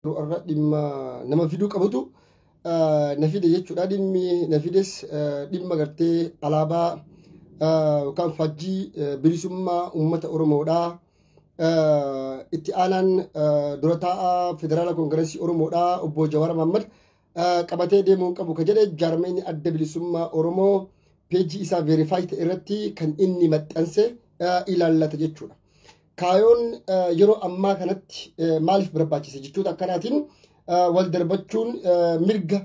yeroo irra dhimma nama fiduu qabutu ah, na fide jechuudha. Dhimmi na fides ah, dhimma gartee alaabaa ah, yookaan faajjii ah, bilisummaa uummata Oromoodha. Ah, Itti aanaan ah, dura taa'aa Federaala Koongireesii Oromoodha obbo Jawaar Mahaammad ah, qabatee deemuun qabu ka jedhe jaarmeenyi adda bilisummaa Oromoo peejii isaa veerifaayi ta'e irratti kan inni maxxanse ah, ilaallata jechuudha. Kaayoon yeroo ammaa kanatti maaliif barbaachise jechoota akkanaatiin wal darbachuun mirga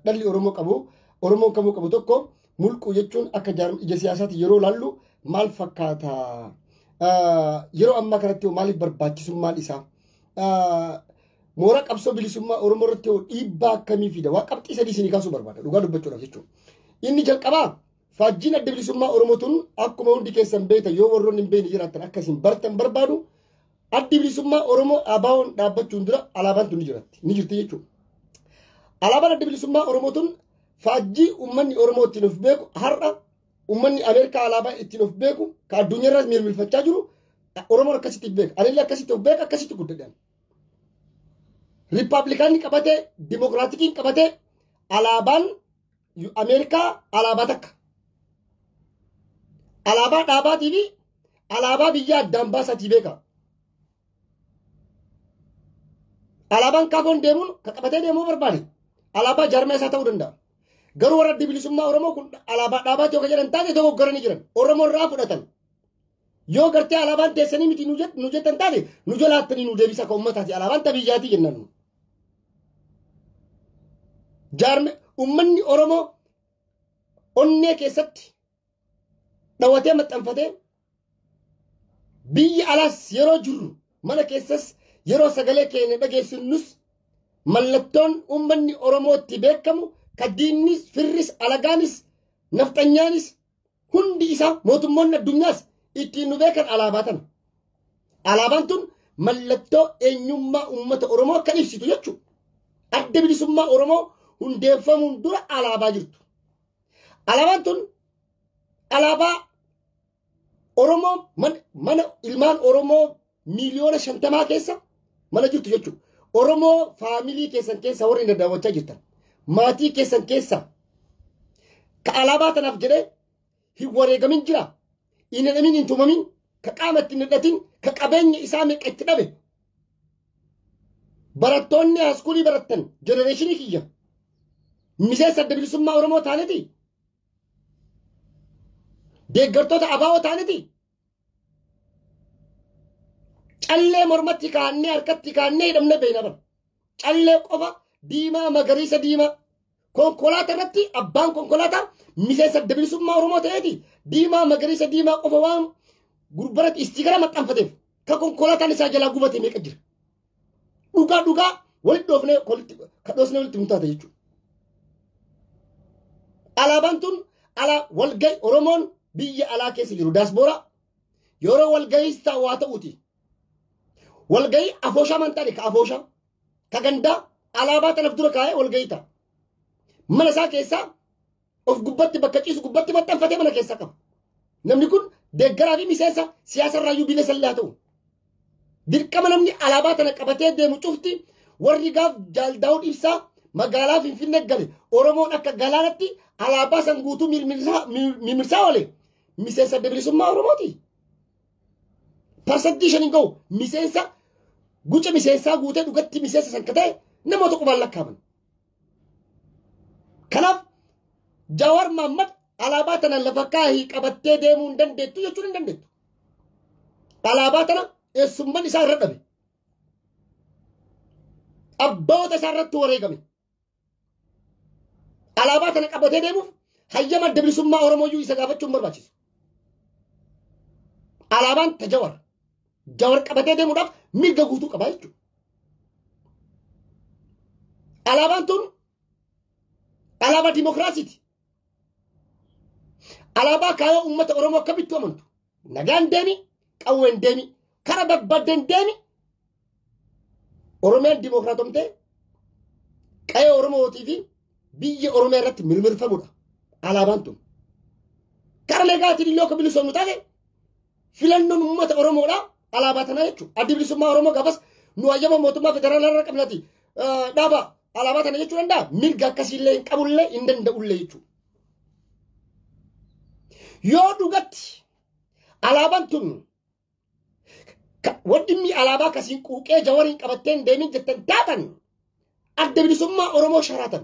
dhalli Oromoo qabu Oromoon kamuu qabu tokko mulquu jechuun akka ija siyaasaatti yeroo laallu maal fakkaata? Yeroo ammaa kanatti maaliif barbaachisummaan isaa? Mooraa qabsoo bilisummaa Oromoo irratti dhiibbaa akkamii fida? Waan qabxii sadii isinii kaasuu barbaada dhugaa dubbachuudhaaf jechuudha. Inni jalqabaa Faajjiin adda bilisummaa Oromoo tun akkuma hundi keessan beektan yoo warroonni hin beekne jiraattan akka isin bartan barbaadu addi bilisummaa Oromoo ABO'n dhaabbachuun dura alaabaan tun ni jiratti ni jirti jechuudha. Alaabaan adda bilisummaa Oromoo tun faajjii uummanni Oromoo ittiin of beeku har'a uummanni Ameerikaa alaabaa ittiin of beeku ka addunyaa irraas mirmirfachaa jiru Oromoon akkasitti of beeka. Anillee akkasitti of beeka akkasitti guddadhan. Riippaabilikaanni qabatee dimokiraatikiin qabatee alaabaan Ameerikaa alaabaa takka. Alaabaa dhaabaatii fi alaabaa biyya addaan baasatii beeka. Alaabaan kaafoon deemuun kan qabatee deemuu barbaade alaabaa jaarmaa isaa ta'uu danda'a. Garuu warra adda bilisummaa Oromoo kun alaabaa dhaabaati yoo jedhan taate dogoggoranii jiran. Oromoo irraa fudhatan. Yoo gartee alaabaan teessanii miti nu jettan taate nu jalaattanii nu deebisa kan uummataati alaabaan tabiyyaatii jennaan. jaarme ummanni Oromoo onnee keessatti dhawatee maxxanfatee biyya alaas yeroo jirru mana keessas yeroo sagalee keenya dhageessifnus mallattoon ummanni Oromootti beekamu ka diinnis firris alagaanis nafxanyaanis Hundi isaa mootummoonni addunyaas ittiin nu beekan alaabaa tana. Alaabaan tun mallattoo eenyummaa uummata Oromoo kan ibsitu jechuudha. Adda bilisummaa Oromoo hundeeffamuun dura alaabaa jirtu. Alaabaan tun alaabaa Oromoo mana ilmaan Oromoo miiliyoona shantamaa keessa mana jirtu jechuudha. Oromoo faamilii keessan keessa warri na daawwachaa jirtan maatii keessan keessa ka alaabaa tanaaf jedhee hin wareegamin jira. Hin hidhamin hin tumamin ka qaama itti hin hidhatin ka qabeenya isaa meeqa itti dhabe. Barattoonni haaskuulii barattan jenereeshinii kiyya miseensa adda bilisummaa Oromoo taaniti. Deeggartoota abaa'oo taaniti. Callee mormatti kaannee harkatti kaannee hidhamnee beekna bara. Callee qofa diimaa magariisa diimaa. Konkolaataa irratti abbaan konkolaataa miseensa adda bilisummaa Oromoo ta'eeti diimaa magariisa diimaa qofa waan gurbaratti istiikara maxxanfateef kan konkolaataan isaa jalaa gubate meeqa jira. Dhugaa dhugaa walitti dhoofnee walitti kadhoosnee walitti murtaata jechuudha. Alaabaan tun alaa walgahi Oromoon biyya alaa keessa jiru daaspooraa yeroo walgahiis ta'u waa ta'uuti. Walgahii afooshaa man ta'e ka afooshaa ka gandaa alaabaa tanaf dura kaa'ee walgahii ta'a. Mana isaa keessaa of gubbatti bakka ciisu gubbatti maxxanfatee mana keessa qaba. Namni kun deeggaraa fi miseensa siyaasa irraa iyyuu bilisa illee haa ta'u. Dirqama namni alaabaa tana qabatee deemu cufti warri gaaf jaaldaa'uun ibsaa magaalaa Finfinnee gale Oromoon akka galaanatti alaabaa san guutuu mirmirsaa oole miseensa adda bilisummaa Oromooti. Parsantii shaniin gahu miseensa guca miseensaa guutee dhugatti miseensa san akka ta'e namoota qubaan lakkaaman. Kanaaf Jawaar Maammad alaabaa tana lafa kaahii qabattee deemuu hin dandeettu jechuun hin dandeettu. Alaabaa tana eessumman isaa irra dhabe. Abboota isaa irratti wareegame. Alaabaa tana qabatee deemuuf hayyama adda bilisummaa Oromooyyuu isa gaafachuun barbaachisu. Alaabaan ta Jawaar. Jawar qabatee deemuudhaaf mirga guutuu qaba jechuudha. Alaabaan tun alaabaa dimokiraasiiti. Alaabaa kaayoo uummata Oromoo akkamittuu amantu. Nagaan deemi, qawween deemi, kara barbaadden deemi. Oromiyaan dimokiraatomtee qa'ee Oromootii fi biyya Oromiyaa irratti mirmirfamudha. Alaabaan tun. Kara nagaatiin illee akka bilisoomnu taate Filannoon uummata Oromoodha. Alaabaa tana jechuun addi bilisummaa Oromoo gaafas nu hayyama mootummaa federaalaa irra qabnati dhaaba alaabaa tana jechuu danda'a. Mirga akkasiillee hin qabullee hin danda'ullee jechuudha. Yoo dhugatti alaabaan tun waddimmi alaabaa kasiin quuqee jawariin qabatteen deemin jettan taatan adda bilisummaa Oromoo sharaatan.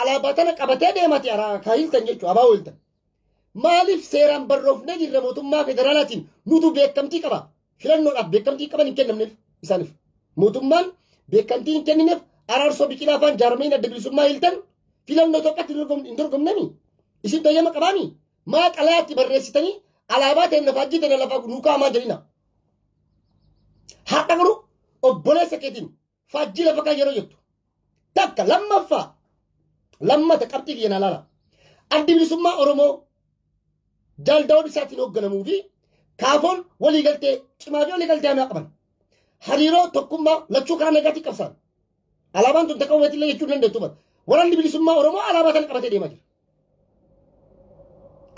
Alaabaa tana qabatee deemati araa ka hiltan jechuudha abaa hiltan. Maaliif seeraan barroofnee jirra mootummaa federaalaatiin nutu beekamtii qaba. Filannoodhaaf beekamtii qaban hin kennamneef isaaniif. Mootummaan beekamtii hin kennineef araarsoo biqilaa faan jaarmeen adda bilisummaa hiltan filannoo tokkotti hin dorgomnemi. Isin tayyama qabaami. Maa xalayaatti barreessitanii alaabaa ta'e lafaa jii ta'e lafaa nuukaa hamaa jedhina. Har'a garuu obboleessa keetiin faajjii lafa kan yeroo jettu takka lammaffaa lammata qabxii kiyya na laala addi bilisummaa oromoo jaal daawud ibsaatiin hoogganamuu fi kaafoon waliigaltee cimaa fi waliigaltee hamaa qaban hariiroo tokkummaa lachuu karaa nagaatiin qabsaan alaabaan tun takka walitti illee jechuu dandeettu bara waraanni bilisummaa oromoo alaabaa tana qabatee deemaa jira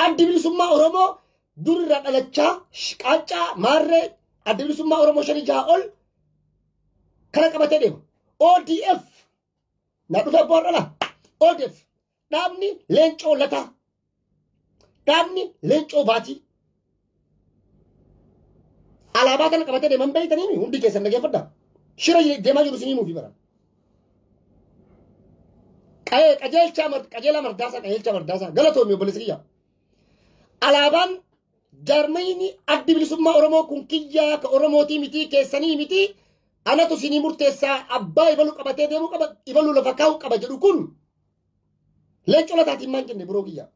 addi bilisummaa oromoo durirraa dhalachaa qaaccaa maarree addi bilisummaa oromoo shanii jaha ol kana qabatee deema. ODF na dhufe abbaa warra laa. ODF dhaabni leencoo lataa dhaabni leencoo baatii alaabaa kana qabatee deeman beeytanii hundi keessan dhageeffadha. Shira deemaa jiru isinii muufi bara. Qa'ee qajeelchaa mar- qajeelaa mardaasaa qajeelchaa mardaasaa galatoomi obboleessa kiyya. Alaabaan Jaarmayni addi bilisummaa Oromoo kun kiyyaa ka Oromootii mitii keessanii mitii anatu sinii murteessaa abbaa ibalu qabatee deemuu qaba ibalu lafa kaa'uu qaba jedhu kun leencoo lataatiin maan jenne biroo kiyyaa.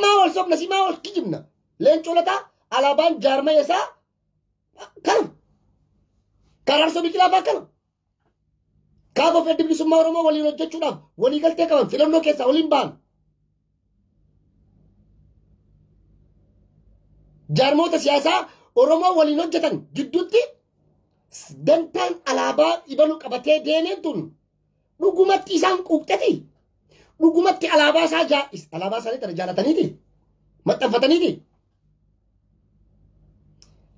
Maa wal sobna si maa wal kijibna leencoo lataa alaabaan jaarmaya isaa kana. Karaarso biqilaa faa kana. Kaaboo fi addi bilisummaa Oromoo waliin hojjechuudhaaf walii galtee qaban filannoo keessaa waliin ba'an. Jaarmoota siyaasaa Oromoo waliin hojjetan gidduutti dantaan alaabaa ibalu qabatee deemeen tun dhugumatti isaan quuqxeti. Dhugumatti alaabaa isaa jaa'is alaabaa isaanii tana jaalataniiti. Maxxanfataniiti.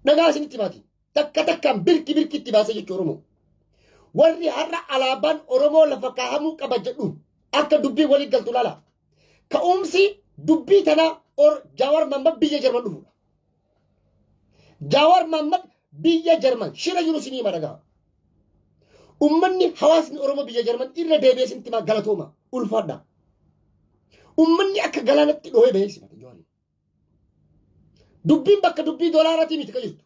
Dhagaa isinitti baati. Takka takkaan birki birki itti baasa jechuudha Oromoo. Warri har'a alaabaan Oromoo lafa kaahamuu qaba jedhu akka dubbii walii galtu laala. Ka'umsi dubbii tanaa or- Jawaar Mahammad biyya Jarman dhufudha. Jawaar Mahammad biyya Jarman shira jiru sinii hima dhagaa. Ummanni hawaasni Oromoo biyya Jarman irra deebi'ee sintimaa galatooma ulfaadha. Ummanni akka galaanatti dhoohee bahee simate Jawaariin. Dubbiin bakka dubbii doolaaratii miti ka jirtu.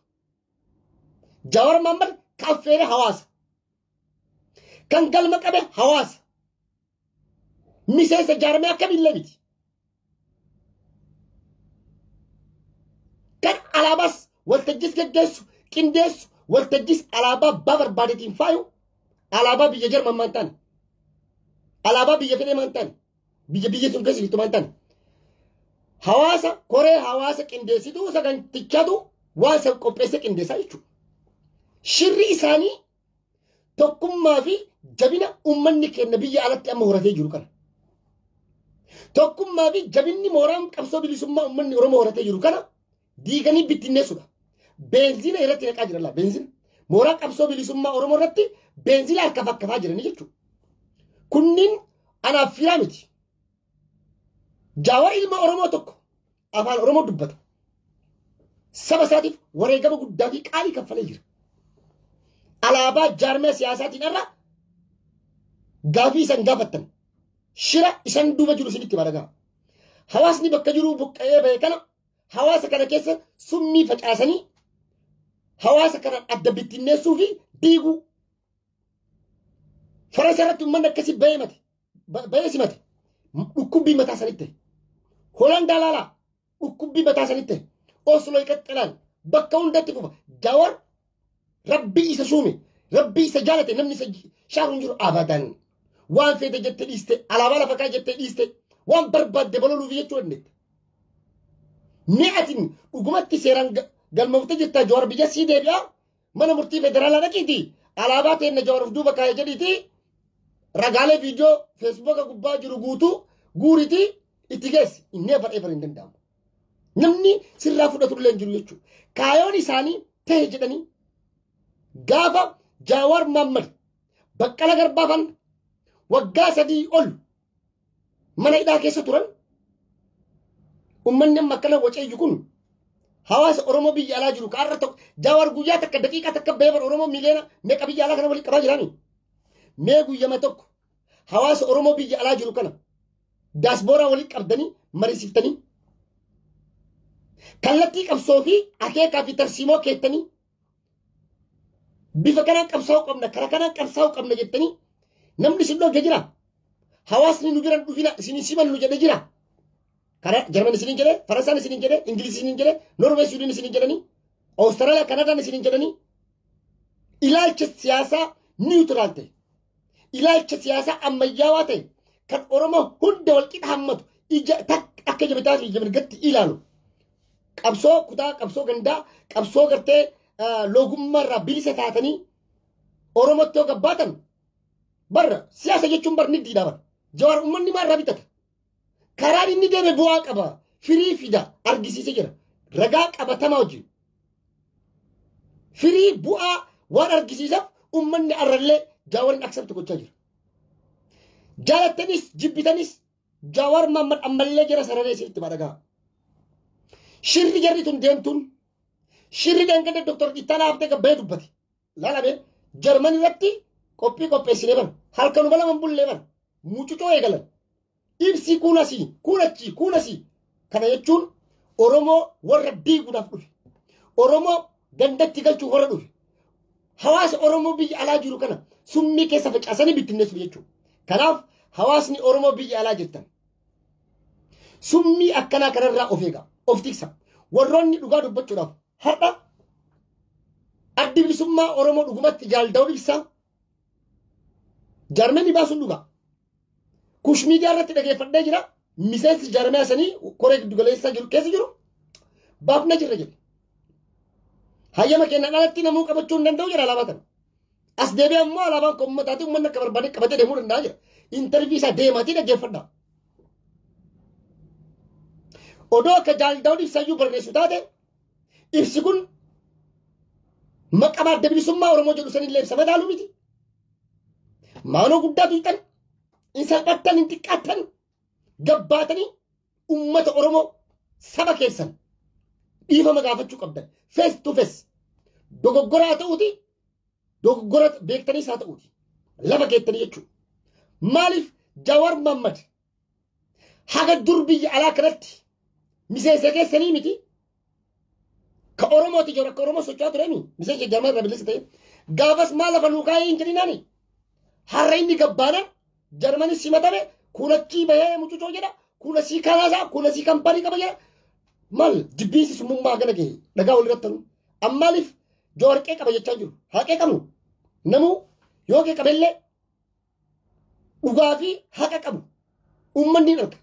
Jawar Mammad ka affeere hawaasa. Kan galma qabe hawaasa. Miseensa jaarmee akkamiillee miti. Kan alaabaas waltajjis geggeessu, qindeessu, waltajjis alaabaa abbaa barbaadetiin faayu, alaabaa biyya Jarman maan taane. Alaabaa biyya fedhee maan taane. biyya biyya sun keessa jirtu maantan hawaasa koree hawaasa qindeessituu sagantichatu waan san qopheesse qindeessaa jechuudha. Shirri isaanii tokkummaa fi jabina uummanni keenya biyya alatti amma horatee jiru kana. Tokkummaa fi jabinni mooraan qabsoo bilisummaa uummanni Oromoo horatee jiru kana diiganii bittinneessuudha. Beenzina irratti naqaa jiran laa beenzina. Mooraa qabsoo bilisummaa Oromoo irratti beenzina harka fakkafaa jiranii jechuudha. Kunniin anaaf firaa miti. Jaawar ilma Oromoo tokko afaan Oromoo dubbata. Saba isaatiif wareegama guddaa fi qaalii kaffalee jira. Alaabaa jaarmee siyaasaatiin irra gaafii isan gaafattan shira isan duuba jiru isinitti baragaa. Hawaasni bakka jiruu buqqa'ee ba'e kana hawaasa kana keessa summii facaasanii hawaasa kana adda bittinneessuu fi diiguu farasa irratti uummanni akkasii bahee mate bahee simate dhukkubbii mataa sanitti holaan daalaalaa dhukkubbii mataa sanitti oslo iqaxxalaan bakka hundatti fufa jawar Rabbii isa suume, rabbii isa jaalate namni isa shaaru hin jiru abadan. Waan feete jette dhiiste, alaabaa lafa kaa jette dhiiste, waan barbaadde baloluuf jechuu dandeette. Mee ati dhugumatti seeraan ga- galmoofte jirta Jawaar biyya sii deebi'a mana murtii federaalaa dhaqiiti alaabaa teenna Jawaar of duuba kaa'e jedhiiti ragaalee viidiyoo feesbuuka gubbaa jiru guutuu guuriti itti geessi inni ever ever hin danda'amu. Namni sirraa fudhatullee hin jiru jechuudha. Kaayoon isaanii ta'e jedhanii gaafa Jaawar Maammad baqqala garbaafan waggaa sadii ol mana hidhaa keessa turan ummanni amma akkana wacayyu kun hawaasa Oromoo biyya alaa jiru ka har'a tokko Jaawar guyyaa takka daqiiqaa takka beeban Oromoo miliyoona meeqa biyya alaa kana waliin qabaa jiraanii mee guyyama tokko hawaasa Oromoo biyya alaa jiru kana daasbooraa walitti qabdanii mariisiftanii kallattii qabsoo fi akeekaa fi tarsiimoo keettanii bifa kanaan qabsaa'uu qabna kara kanaan qabsaa'uu qabna jettanii namni isin dhooge jira hawaasni nu biran dhufina isin hin simannu jedhe jira kara jarman isin hin jedhe faransaan isin hin jedhe ingiliz isin hin jedhe norwee suudin isin hin jedhanii awustaraaliyaa kanadaan isin hin jedhanii ilaalcha siyaasaa niwutiraal ta'e ilaalcha siyaasaa ammayyaawaa ta'e kan Oromoo hunda walqixa hammatu ija takka akka ija bitaa fi ija mirgatti ilaalu. Qabsoo kutaa, qabsoo gandaa, qabsoo gartee ah, loogummaa irraa bilisa taatanii Oromootti yoo gabbaatan barra siyaasa jechuun barni diidhaa bara. Jawaar uummanni maal irraa bitata? Karaan inni deeme bu'aa qaba. Firii fida argisiisee jira. Ragaa qabatamaa wajjin. Firii bu'aa waan argisiisaaf uummanni arrallee jaawarin aksepti gochaa jira. Jaalattanis jibbitanis jaawar maammad ammallee jara sararee isinitti madhagaa. Shirri jarri tun deemtuun shirri dhangadda Dr. Ittaanaa Habtee Gabbayee dubbate. Laala mee Jarman irratti qophii qopheessinee bar halkanuma lama hin bullee bar mucucoo eegalan ibsii kuun asii kuun achii kuun asii kana jechuun Oromoo warra diiguudhaaf dhufe Oromoo gandatti galchuuf warra dhufe hawaasa Oromoo biyya alaa jiru kana summii keessa facaasanii bittinneessuuf jechuudha. Kanaaf hawaasni Oromoo biyya alaa jirtan summii akkanaa kanarraa of eegaa of tiksa warroonni dhugaa dubbachuudhaaf Har'a addi bilisummaa Oromoo dhugumatti jaal Daawud Ibsaa jaarmeenni baasuun dhugaa. Kush miidiyaa irratti dhageeffadhee jira. Miseensi jaarmiyaa sanii koree giddu galeessaa jiru keessa jiru baafna jirra jedhe. Hayyama kennaan alatti namuu qabachuu hin danda'u jedha alaabaa kana. As deebi'ee ammoo alaabaan kun uummataatiin uummanni akka barbaade qabatee deemuu danda'a jira. Intarvii isaa deemaatii dhaggeeffadha. Odoo akka jaaldaawwan ibsayyuu barreessu taate ibsi kun maqaa adda bilisummaa Oromoo jedhu sanillee ibsa madaaluu miti. Maaloo guddaa tuyxan, hin salphattan, hin xiqqaattan, gabbaatanii Ummata Oromoo saba keessan dhiifama gaafachuu qabdan. Face to face. Dogoggoraa ta'uuti dogoggora beektanii isaa ta'uuti. Lafa keettanii jechuudha. Maaliif Jawar Mammad haga dur biyya alaa kanatti miseensa keessanii miti Ka Oromooti jiru akka Oromoo socho'aa turani. Miseensa jaarmaa irraa bilisa ta'e. Gaafas maal lafa nuu kaa'ee hin jedhinaani. Har'a inni gabbaana jarmani simatame kuulachii bahee mucucoo jedha. Kuula sii kanaasaa kuula sii kampanii qaba jedha. Maal jibbiinsi summummaa gana gahe dhagaa walirratti tanu. Ammaaliif jawarqee qaba jechaa jiru. Haqee qabu. Namuu yoo qeeqamellee dhugaa fi haqa qabu uummanni hin arga.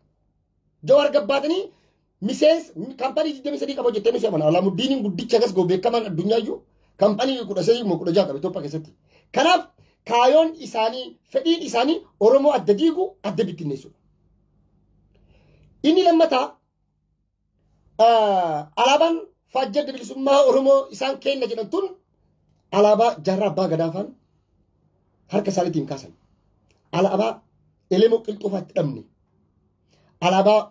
Jawaar gabbaatanii miseensa kaampanii 23 qaba jettee ni seemana. Alaamuddin guddicha gas goo beekamaan addunyaayyu kaampanii 13 moo 16 qaba Itoophiyaa keessatti. Kanaaf kaayoon isaanii fedhiin isaanii Oromoo adda diigu adda bittinneessuudha. Inni lammataa Alaabaan faajjii adda bilisummaa Oromoo isaan kenna jedhan tun alaabaa jaarraa abbaa gadaafaan harka isaaniitiin kaasan. Alaabaa elemoo qilxoofaatti dhabne. Alaabaa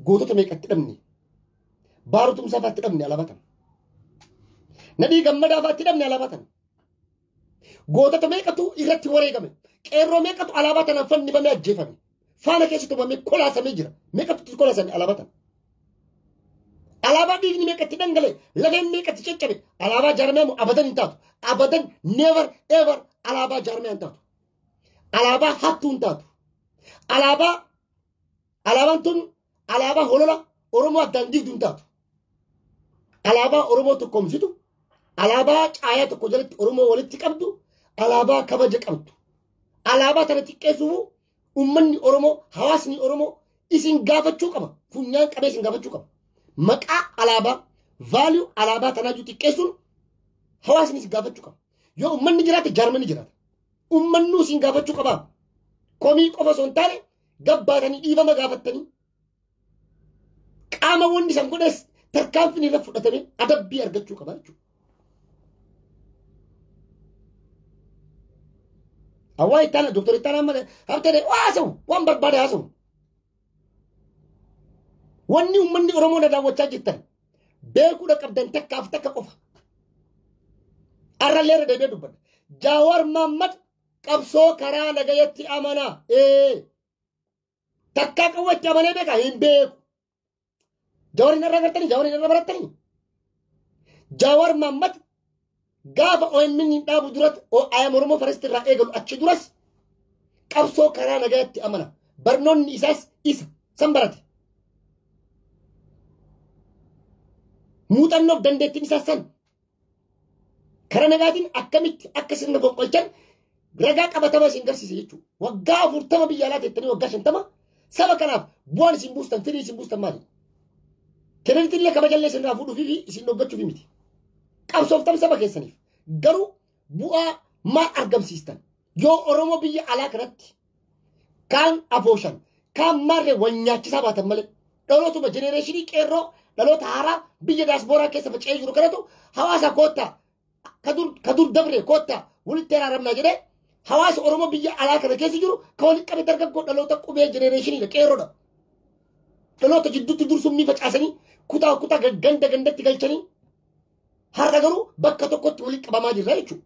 gootota meeqatti dhabne. Baaruu tumsaafaatti dhabne alaabaa tana. Nadhii gammadaafaa itti dhabne alaabaa tana. Gootota meeqatu irratti wareegame. Qeerroo meeqatu alaabaa tanaan fannifamee ajjeefame. Faana keessa tumamee kolaasamee jira. Meeqatu kolaasame alaabaa tana. Alaabaa dhiigni meeqatti dhangale lafeen meeqatti caccabe alaabaa jaarmiyaamu abadan hin taatu. Abadan never ever alaabaa jaarmiyaa hin taatu. Alaabaa hattuu hin taatu. Alaabaa alaabaan tun alaabaa holola Oromoo addaan diigdu hin taatu. Alaabaa Oromoo tokkoomsitu, alaabaa caayaa tokko jalatti Oromoo walitti qabdu, alaabaa kabaja qabdu. Alaabaa tana xiqqeessuuf uummanni Oromoo, hawaasni Oromoo isin gaafachuu qaba. Funyaan qabee isin gaafachuu qaba. Maqaa alaabaa, value alaabaa tanaa jiru xiqqeessuun hawaasni isin gaafachuu qaba. Yoo uummanni jiraate jaarmanni jiraata. Uummanni isin gaafachuu qaba. Komii qofa osoo hin taane gabbaatanii dhiifama gaafattanii qaama wanni san godhes tarkaanfiin irra fudhatamee adabbii argachuu qaba jechuudha. Hawaa itti aanaa doktor itti aanaa malee habtee haasawu waan barbaade haasawu. Wanni uummanni Oromoo na daawwachaa jirtan beekuudha qabdan takkaaf takka qofa. Arrallee irra deebi'ee dubbadha. Jaawaar Maammad qabsoo karaa nagayatti amana ee takkaa qawwatti amanee beeka hin beeku jawariin irra gartanii jawariin irra barattanii jawar mammad gaafa OMN hin dhaabu duratti ayam oromoo faristi irraa eegalu achi duras qabsoo karaa nagayatti amana barnoonni isaas isa san barate muuxannoof dandeettiin isaas san Kara nagaatiin akkamitti akka sirna fonqolchan ragaa qabatama isin garsiise jechuudha. Waggaa afurtama biyya alaa teettanii waggaa shantama saba kanaaf bu'aan isin buustan firii isin buustan maali? Kireditii illee kabajallee isin irraa fuudhuufi fi isin dhoggachuufi miti. Qabsooftan saba keessaniif garuu bu'aa maal argamsiistan? Yoo Oromoo biyya alaa kanatti kaan afooshan kaan maarre wal nyaachisaa baatan malee dhalootuma jenereeshinii qeerroo dhaloota haaraa biyya daaspooraa keessa faca'ee jiru kanatu hawaasa koottaa ka dur ka dur dabre koottaa walitti araaramnaa jedhee hawaasa oromoo biyya alaa kana keessa jiru ka walitti qabe dargaggoo dhaloota qubee jenereeshiniidha qeerroodha dhaloota jidduutti dursummii facaasanii kutaa kutaa ganda gandatti galchanii Har'a garuu bakka tokkotti walitti qabamaa jirra jechuudha.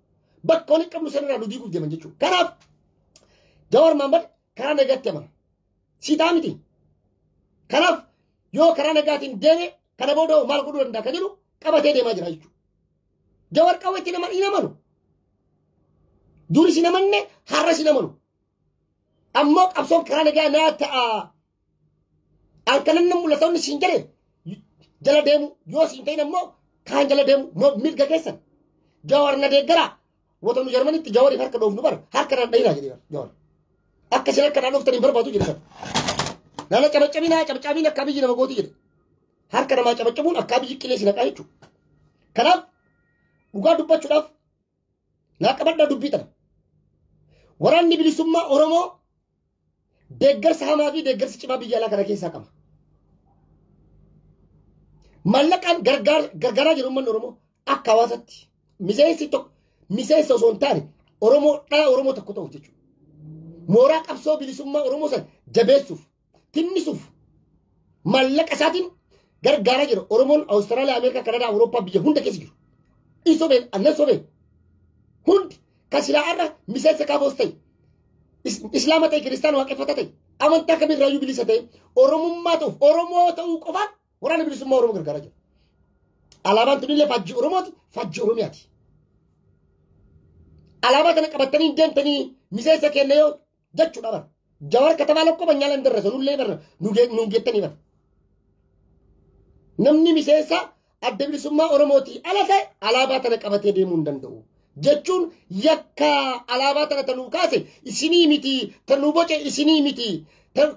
Bakka walitti qabnu sanarraa nu diiguuf deeman jechuudha. Kanaaf Jawar Mahammad karaa nagaatti amana. Siitaa miti. Kanaaf yoo karaa nagaatiin deeme kana booda hoo maal godhuu danda'a kan jedhu qabatee deemaa jira jechuudha. Jawar qawweetti nama hin amanu. Duris hin amanne har'as hin amanu. Ammoo qabsoon karaa nagaa naa ta'a halkanan nan mul'ata inni siin jedhe jala deemu yoo siin ta'in ammoo kaan jala deemu ma- mirga keessan jawar na deeggara wata nu jarmanitti jawariif harka dhoofnu bar harka nan dhayinaa jedhe jawar akka isin harka naan dhooftan hin barbaadu jedhe bar nana cabacabinaa cabacaabiin akka biyyi nama gooti jedhe harka namaa cabacabuun akka biyyi qilee si naqaa jechuudha kanaaf dhugaa dubbachuudhaaf Naa qabadhaa dubbii tana. Waraanni bilisummaa Oromoo deeggarsa hamaa fi deeggarsa cimaa biyya alaa kana keessaa qaba. Mallaqaan gargaaraa jiru uummanni Oromoo akka hawaasatti miseensi tokko miseensa osoo hin taane Oromoo dhala Oromoo tokko ta'uuf jechuudha. Mooraa qabsoo bilisummaa Oromoo sana jabeessuuf tinnisuuf maallaqa isaatiin gargaaraa jira. Oromoon Awustiraaliyaa, Ameerikaa, Kanadaa, Awurooppaa biyya hunda keessa jiru. Hin sobeen, annan sobeen. Hundi kan silaa har'a miseensa kaafoos ta'e, is- islaama ta'e, kiristaana waaqeffata ta'e, amantaa kamirraayyuu bilisa ta'e, Oromummaa ta'uuf, Oromoo ta'uu qofaan waraana bilisummaa Oromoo gargaaraa jira. Alaabaan tunillee faajjii Oromooti, faajjii Oromiyaati. Alaabaa kana qabattanii hin deemtanii miseensa keenya yoo jechuudha bara. Jawar katamaa lokkoo banyaala hin darrasa nullee bara nuun geettanii bara. Namni miseensa adda bilisummaa Oromootii ala ta'e alaabaa tana qabatee deemuu hin danda'u. Jechuun yakka alaabaa tana tanuu kaase isinii miti tanuu boce isinii miti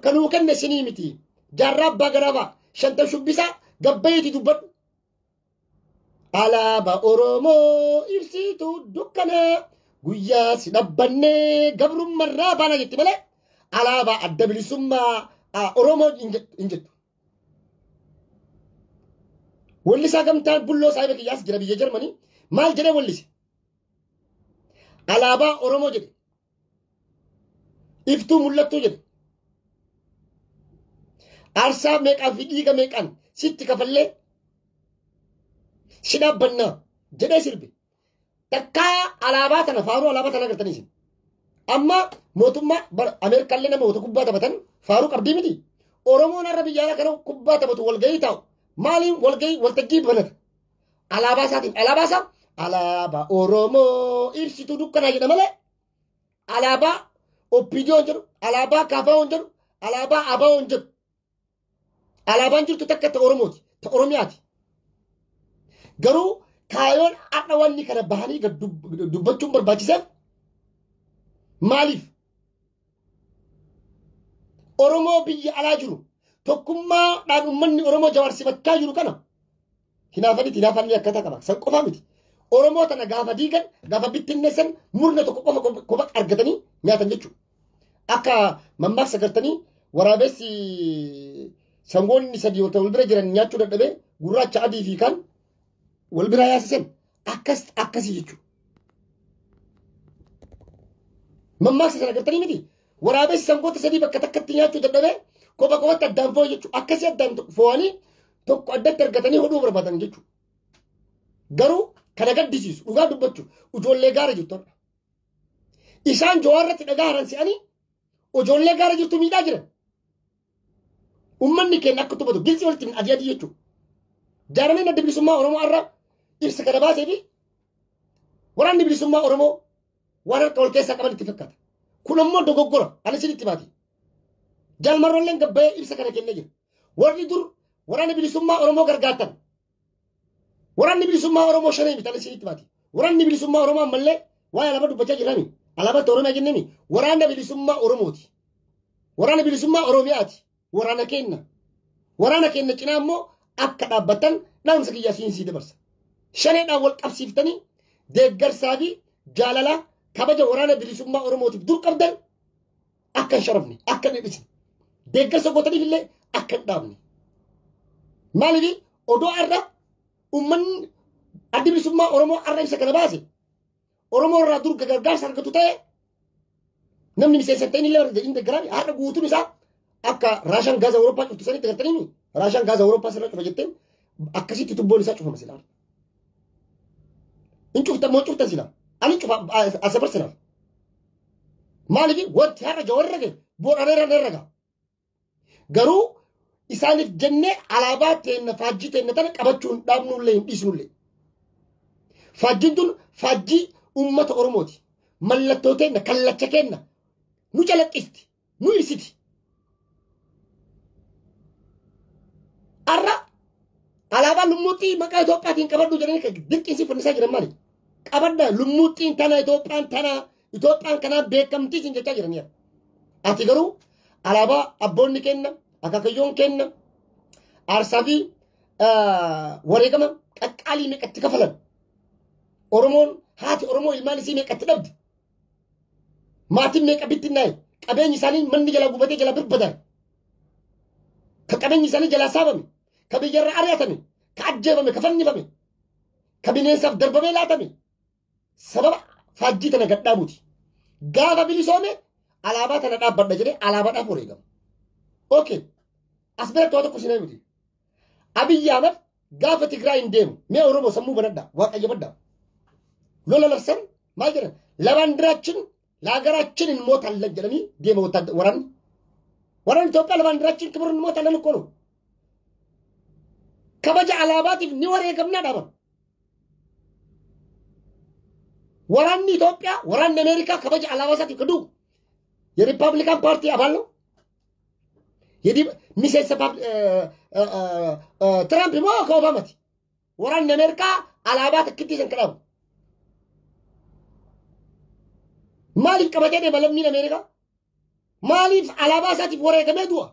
kanuu kenne isinii miti. Jaarraa abbaa garaabaa shanta shubbisaa gabbayeeti dubbadhu. Alaaba Oromoo ibsituu dukkanaa guyyaa si dhabbannee gabrummarraa baana jetti malee alaabaa adda bilisummaa ah, Oromoo hin jet- hin jettu. Wallisaa gamtaan bulloo saahiba kiyyaas jira biyya Jarmanii maal jedhee wallise? Alaabaa Oromoo jedhe. iftuu mul'attuu jedhe aarsaa meeqaa fi dhiiga meeqaan sitti kafallee si dhaabbannaa jedhee sirbe takkaa alaabaa tana faaruu alaabaa tana agartanii isin amma mootummaa bara ameerikaallee nama wata kubbaa taphatan faaruu qabdii miti oromoon har'a biyya alaa kana kubbaa taphatu walgahii taa'u maaliin walgahii waltajjii banata Alaabaa isaatiin alaabaa isaa alaabaa Oromoo ibsituu dukkanaa jedha malee alaabaa Oppiidiyoon jedhu alaabaa Kaafaawwan jedhu alaabaa Abaawoon jedhu alaabaan jirtu takka ta Oromooti ta Oromiyaati. Garuu kaayoon har'a wanni kana bahanii gad dub- dubbachuun barbaachiseef maaliif Oromoo biyya alaa jiru tokkummaadhaan uummanni Oromoo jawaarsiifachaa jiru kana hinaafan itti hinaafan ni akkata qaba. San qofa miti. Oromoo tana gaafa diigan gaafa bittinneessan murna tokko qofa qofa argatanii nyaatan jechuudha. Akka mammaaksa gartanii waraabessi sangoonni sadii wal bira jiran nyaachuu dadhabee gurraacha adii fi kaan wal bira yaasisan. akkas akkasii jechuudha. Mammaaksa sana agartanii miti waraabessi sangoota sadii bakka takkatti nyaachuu dadhabee kopha kophatti addaan fo'e jechuudha. Akkasii addaan fo'anii tokko addatti argatanii hodhuu barbaadan jechuudha. Garuu kana gaddisiisu dhugaa dubbachuuf ijoollee gaara jirtu har'a. Isaan jawaarratti dhagaa haran se'anii ijoollee gaara jirtu miidhaa jiran. Uummanni keenya akka tuffatu gilsii walitti hin adii adii jechuudha. Jaarmeen adda bilisummaa Oromoo irra ibsa kana baasee fi waraanni bilisummaa Oromoo waan harka wal keessaa qaban itti fakkaata. Kun ammoo dogoggora ani isin itti baati. Jaalmarroolleen gabbayee ibsa kana kennee jira. Warri dur waraana bilisummaa Oromoo gargaartan Waraanni bilisummaa Oromoo shanee bitan isinitti baati. Waraanni bilisummaa Oromoo ammallee waan alaabaa dubbachaa jirrani. Alaabaa itti Oromiyaa jennemi. Waraanna bilisummaa Oromooti. Waraanna bilisummaa Oromiyaati. Waraana keenna. Waraana keenna cinaa immoo akka dhaabbatan dhaamsa kiyyaa siin sii dabarsa. Shaneedhaan wal qabsiiftanii deeggarsaa fi jaalalaa kabaja waraana bilisummaa Oromootiif dur qabdan akka hin sharafne akka hin dhidhisne deeggarsa gootaniif illee akka hin dhaabne maaliif odoo har'a ummanni addi bilisummaa oromoo har'a ibsa kana baase oromoo irraa dur gargaarsa argatu ta'e namni miseensa ta'in illee barate inni deeggaraan har'a guutuun isaa akka raashaan gaaza awurooppaa cuftu sanitti gartanii raashaan gaaza awurooppaa sirra cufa jetteen akkasitti tubboon isaa cufama silaa Hin cufta moo cufta sila. Ani cufa asabar sila. Maaliif wanti har'a jawar irra gahe boodhaan irra irra gaha. Garuu isaaniif jennee alaabaa teenna faajjii teenna tana qabachuu hin dhaabnullee hin dhiisnullee. Faajjiin tun faajjii uummata Oromooti. Mallattoo teenna kallacha keenna nu calaqqisti. nuyi siti arra alaabaa lummuuxxii maqaa Itoophiyaatiin qabadhu jedhanii kan dirqiisii fannisaa jiran maali? Qabadda lummuuxxiin tana Itoophiyaan tana Itoophiyaan kanaa beekamtii siin jechaa jiraniiru. Ati garuu alaabaa abboonni kenna akaakayyoon kenna aarsaa fi ah, wareegama qaqqaalii meeqatti kafalan Oromoon haati Oromoo ilmaan isii meeqatti dhabde Maatiin meeqa bittinnaa'e? Qabeenyi isaanii manni jalaa gubatee jalaa birbadan. Ka qabeenyi isaanii jalaa saamame. Ka biyyarra ari'atame. Ka ajjeefame. Ka fannifame. Ka bineensaaf darbamee laatame. Sababa faajjii tana gadhaabuuti. Gaafa bilisoome alaabaa tana dhaabbadha jedhee alaabaadhaaf wareegama. Okay. As biratti waa tokko isin himti. Abiyyi Ahmad gaafa Tigraay hin deemu. Mee Oromoo sammuu banadha. Waaqayyo badda. Lola labsan maal jedhan? Labaandiraachin laagaraachin hin mootallan jedhanii deema wata- waraanni. Waraanni Itoophiyaa labaandiraachin kibirri hin mootallan hin koonu. Kabaja alaabaatiif ni wareegamnaa dhaaban. Waraanni Itoophiyaa waraanni Ameerikaa kabaja alaabaa isaatiif kaduu. Yerippaabilikaan paartii abaallo Yadii miseensa pab- eh, eh, eh, eh, Tiraamp moo akka Obaamati? Waraanni Ameerikaa alaabaa takkittii san kadhabu. Maaliif qabatee deema lammiin Ameerikaa? Maaliif alaabaa isaatiif wareegamee du'a?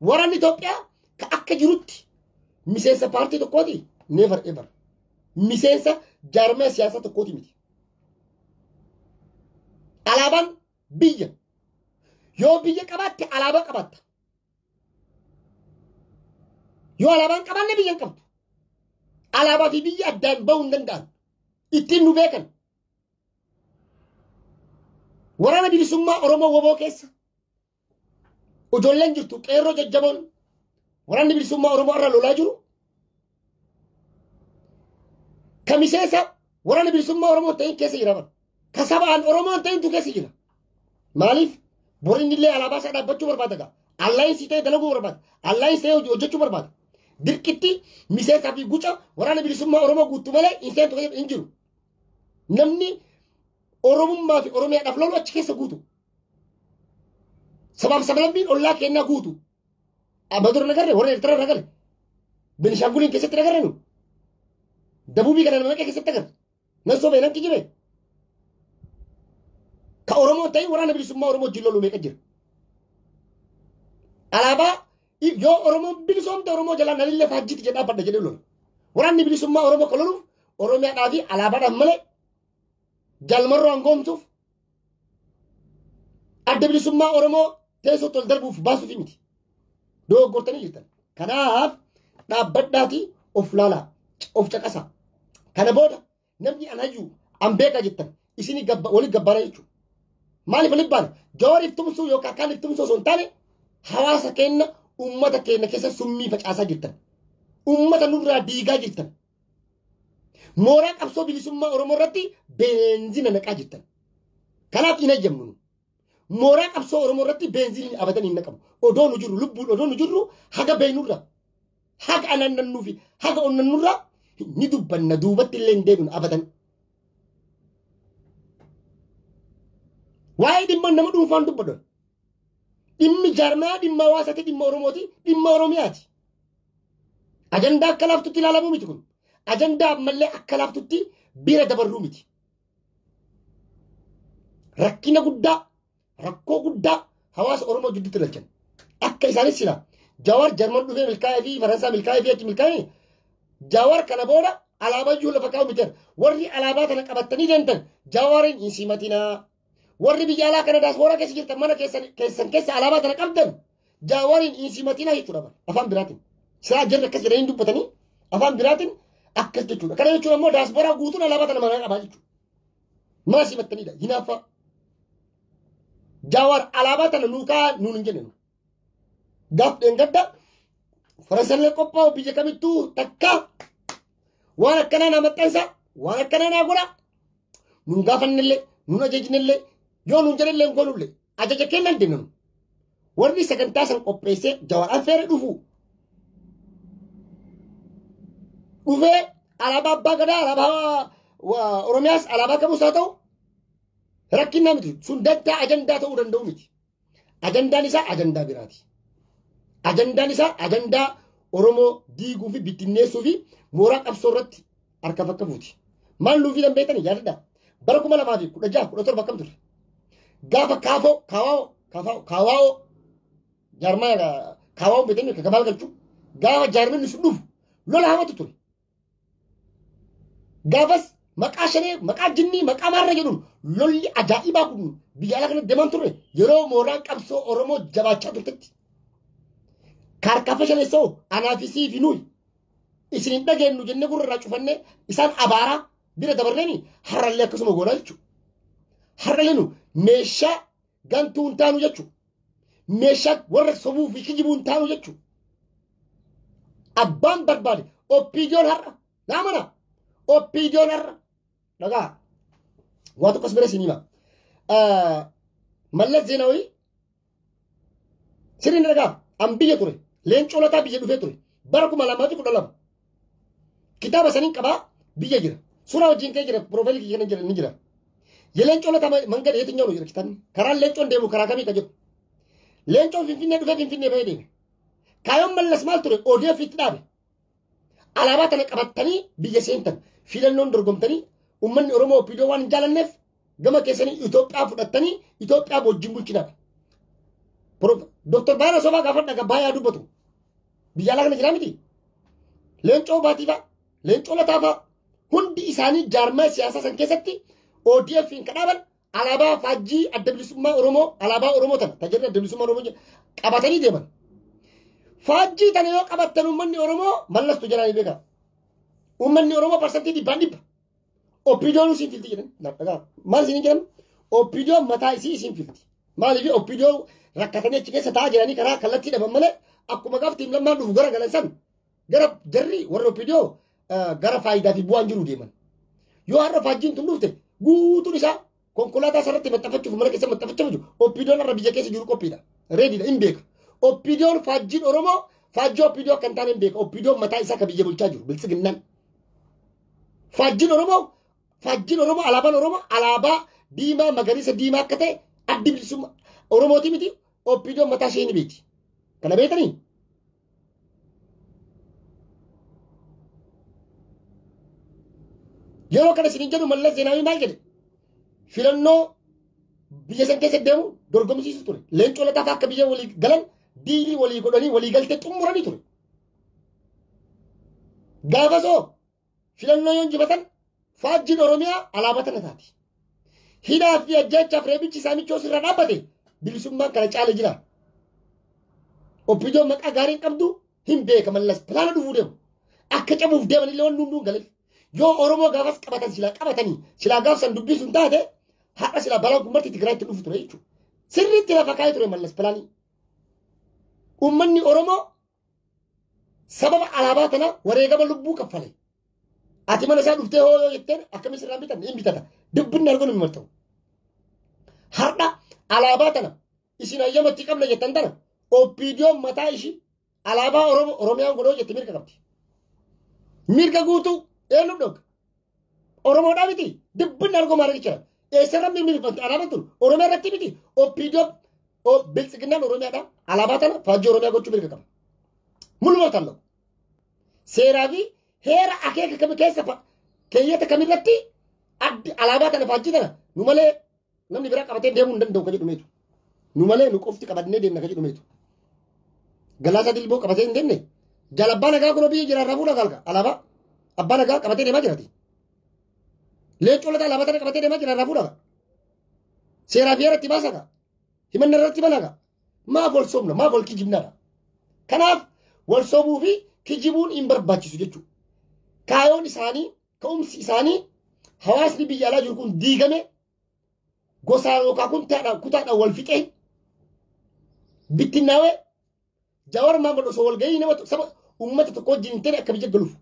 Waraanni Itoophiyaa ka akka jirutti miseensa paartii tokkooti never ever. Miseensa jaarmee siyaasaa tokkooti miti. Alaabaan Biyya. Yoo biyya qabaatte alaabaa qabaatta. Yoo alaabaa hin qabaanne biyya hin qabdu. Alaabaa fi biyya addaan bahuu hin danda'an. Ittiin nu beekan. Waraana bilisummaa Oromoo woboo keessa ijoolleen jirtu qeerroo jajjaboon waraanni bilisummaa Oromoo irra lolaa jiru Ka miseensa waraana bilisummaa Oromoo hin ta'in keessa jira bara. Ka sabaan Oromoo hin ta'intu keessa jira. Maaliif? Bor inni illee alaabaa isaa dhaabbachuu barbaada gaa. Allaayinsii ta'e dalaguu barbaada. Allaayinsii ta'e hojii hojjechuu barbaada. Dirqitti miseensaa fi guca waraana bilisummaa Oromoo guutuu malee hin seentu keessa hin jiru. Namni Oromummaa fi Oromiyaadhaaf lolu achi keessa guutu. Sabaaf sablammiin ollaa kennaa guutu. Abador nagarre warra Ertara irra gale. Benishanguliin keessatti nagarre nu. Dabubii kana nama meeqa keessatti agarre. Nan sobee nan kijibee. Ka Oromoo ta'e waraana bilisummaa Oromoo wajjin lolu meeqa jira. Alaabaa yoo Oromoon bilisoomte Oromoo jalaa nalillee faajjiitti jedhaa badda jedhee lola. Waraanni bilisummaa Oromoo kan loluuf Oromiyaadhaa fi alaabaadhaan malee jalmarroo hangoomsuuf adda bilisummaa Oromoo teessootti ol darbuuf baasuufi miti. Dogoggortanii jirtan. Kanaaf dhaabbadhaatii of laalaa, of caqasaa. Kana booda namni an hayyuu an beekaa jettan isin waliin gabbaara jechuudha. Maaliif waliin baana? Jawaariif tumsuu yookaan kaaniif tumsuu osoo hin taane hawaasa keenya uummata keenya keessa summii facaasaa jirtan. Uummata nurraa diigaa jirtan. Mooraa qabsoo bilisummaa Oromoo irratti beenzina naqaa jirtan. Kanaaf hin eeyyamnu. Mooraa qabsoo Oromoo irratti beenzinni abadan hin naqamu. Odoo nu jirru lubbuun odoo nu jirru haga beeynurra haga anannannuu fi haga onnannurra ni dubbanna duubatti illee hin deebinu abadan. Waa'ee dhimma nama dhuunfaan dubbadhu. Dhimmi jaarmaa dhimma hawaasaati dhimma Oromooti dhimma Oromiyaati. Ajandaa akka laaftutti ilaalamuu miti kun. Ajandaa ammallee akka laaftutti bira dabarruu miti. Rakkina guddaa, rakkoo guddaa hawaasa Oromoo jidduutti ilaalchan. Akka isaanis sila Jawaar Jarman dhufee milkaa'ee fi Faransaa milkaa'ee fi achi milkaa'ee Jawaar kana booda alaabaa iyyuu lafa kaa'u miti. Warri alaabaa kana qabatanii deemtan Jawaariin hin simatinaa. Warri biyya alaa kana daasbooraa keessa jirtan mana keessan keessan keessa alaabaa tana qabdan jaawariin insimatinaa jechuudha bara afaan biraatiin. Siraa jirri akkas jedhanii dubbatanii afaan biraatiin akkas jechuudha. Kana jechuun ammoo daasbooraa guutuun alaabaa tana manaa qabaa jechuudha. Mana simattaniidha hinaaffaa. Jaawar alaabaa tana nuu kaa nuun hin jenne. Gaaf dheengadda farasallee qophaa'u biyya kamittuu takkaa waan akkanaa naa maxxansa waan akkanaa naa godha nun gaafannellee nun ajajnellee yoo nun jedhellee hin goonullee ajaja kennan deemna nu warri sagantaa san qopheessee jawar affeere dhufu dhufee alaabaa abbaa gadaa alaabaa wa- oromiyaas alaabaa qabuus haa ta'u rakkinnaa miti sun dantaa ajandaa ta'uu danda'u miti Ajandaan isaa ajandaa biraati. Ajandaan isaa ajandaa Oromoo diiguu fi bittinneessuu fi mooraa qabsoo irratti harka fakka fuuti. Maal nuuf fidan beektanii yaadadhaa. Bara kuma lamaa fi kudha jaha kudha torba akkam ture? Gaafa kaafoo kaawaawoo kaafaawoo kaawaawoo jaarmaa kaawaawoo beektanii kakabaal galchuu gaafa jaarmanni sun dhufu lola hamatu ture. Gaafas maqaa shanee, maqaa jinnii, maqaa maarra jedhuun lolli ajaa'ibaa kun biyya alaa kanatti deemaa turre yeroo mooraan qabsoo Oromoo jabaachaa turtetti. Kaarkaafa shaneessoo anaa fi sii fi nuyi isin hin dhageenyu jennee gurra irraa cufannee isaan abaaraa bira dabarreeni har'allee akkasuma goonaa jechuudha. Har'allee nu meeshaa Gantuu hin taanu jechuudha. Meeshaa warra sobuu fi kijibuu hin taanu jechuudha. Abbaan barbaade oppiidiyoon har'a naa mana oppiidiyoon har'a dhagaa waa tokkos bira isin hima. Mallas Zeenaawii sirriin dhagaa an biyya ture leencoo lataa biyya dhufee ture bara kuma lamaa fi kudha lama Kitaaba saniin qabaa biyya jira. Suuraa wajjin kee jira piroofaayilii kiyya kana jira ni jira. Leencoon lataa mangada yetinyaa nu jira kitaabni. Karaan leencoon deemu karaa kamii ka jedhu. Leencoon finfinnee dhufee finfinnee bahee deeme. Kaayoon mallas maal ture ODF itti dhaabe. Alaabaa tana qabattanii biyya seentan filannoon dorgomtanii uummanni Oromoo OPDO waan hin jaalanneef Gama keessanii Itoophiyaa fudhattanii Itoophiyaa wajjin bulchinaadha. Dooktar Baay'ina Sobaa gaafadha kan baay'ee dubbatu. Biyya alaa kana jiraa miti. Leencoo Baatiifaa, Leencoo Lataafaa hundi isaanii jaarmaa siyaasaa san keessatti ODF'n kan dhaaban alaabaa faajjii adda bilisummaa Oromoo alaabaa Oromoo tana tajaajila adda bilisummaa Oromoo jedhu qabatanii deeman. Faajjii tana yoo qabattan uummanni Oromoo mallastu jedhanii beekaa. Uummanni Oromoo parsantii dhibbaan dhibba Oppiidoon isin filti jedhan. Naaf dhagaa. Maal isin jedhan? Oppiidoon mataa isii isin filti. Maaliif oppiidoon rakkatanii achi keessa taa'aa jiranii karaa kallattii dhaban malee akkuma gaafti hin lammaan dhufu gara galan san gara jarri warra oppiidoo gara faayidaa fi bu'aan jiru deeman. Yoo har'a faajjiin tun dhufte guutuun isaa Konkolaataa sarratti maxxanfachuuf mana keessa maxxanfachaa jiru. Oppiidoon irra biyya keessa jiru qophiidha. Reediidha hin beeka. Oppiidoon faajjiin Oromoo faajjii oppiidoo akka hin taane hin beeka. Oppiidoon mataa isaa kan biyya bulchaa jiru biltsiginnaan. Faajjiin Oromoo faajjiin Oromoo alaabaan Oromoo alaabaa diimaa magariisa diimaa akka ta'e addi bilisummaa Oromooti miti oppiidoon mataa ishee ni beekti. Kana beektanii? Yeroo kana isin jedhu mallas zeenaawii maal jedhe? Filannoo biyya san keessa deemu dorgomsiisu ture. Leencoo lataa fa'aa akka biyya walii galan diilii walii godhanii walii galtee xumuranii ture. Gaafasoo filannoo yoo injifatan faajjiin Oromiyaa alaabaa tana taati. Hidhaa fi ajjeechaaf reebichi saamichoo sirra dhaabbate bilisummaan kana caala jira. Oppiidoon maqaa gaarii hin qabdu hin beeka mallas pilaana dhufuu deemu. Akka cabuuf deeman illee wanni hunduu hin galeef. Yoo Oromoo gaafas qabatan silaa qabatanii silaa gaafsan dubbisu hin taate har'a silaa balaan kun marti Tigraayitti dhufu ture jechuudha. Sirriitti lafa kaa'ee ture mallas pilaanii. Uummanni Oromoo sababa alaabaa kana wareegama lubbuu kaffale. Ati mana isaa dhuftee hoo yoo jetteen akkamis irraa bitan hin bitata. Dubbinni arguun hin marta'u. Har'a alaabaa tana isin hayyamatti qabna jettan tana oppiidiyoon mataa ishii alaabaa Oromoo Oromiyaan godhoo jette mirga qabdi. Mirga guutuu eenyuuf dhooga? Oromoodhaa miti dibbin argoo maaragi jira. Eessarra mirmirfamte alaabaan tun Oromiyaa irratti miti OPDO biltsiginnaan Oromiyaadha alaabaa tana faajjii Oromiyaa gochuu mirga qaba. Mul'umaa talloo. Seeraa fi heera akeeka kami keessa keeyyata kamirratti addi alaabaa tana faajjii tana nu malee Namni biraa qabatee deemuu hin danda'u ka jedhu meetu. Nu malee nu qofti qabannee deemna ka jedhu meetu. Galaasaa dilboo qabatee hin deemne. Jaal abbaa nagaa kunoo biyya jira irraa fuudhaa gaalka alaabaa. Abbaa nagaa qabatee deemaa jirati. Leencoo lataa alaabaa tana qabatee deemaa jira irraa fuudhaa. Seeraa fi irratti baasaa gaa. Himanna irratti banaa gaa. Maaf wal sobna maaf wal kijibnaadha. Kanaaf wal sobuu fi kijibuun hin barbaachisu jechuudha. Kaayoon isaanii Ka'umsi isaanii hawaasni biyya alaa jiru kun diigame gosaan yookaan kuntaadhaan kutaadhaan wal fixee bittinnaawee Jawar Maammal osoo wal gahii nama saba uummata tokko wajjin hin ta'e akka biyya galuuf.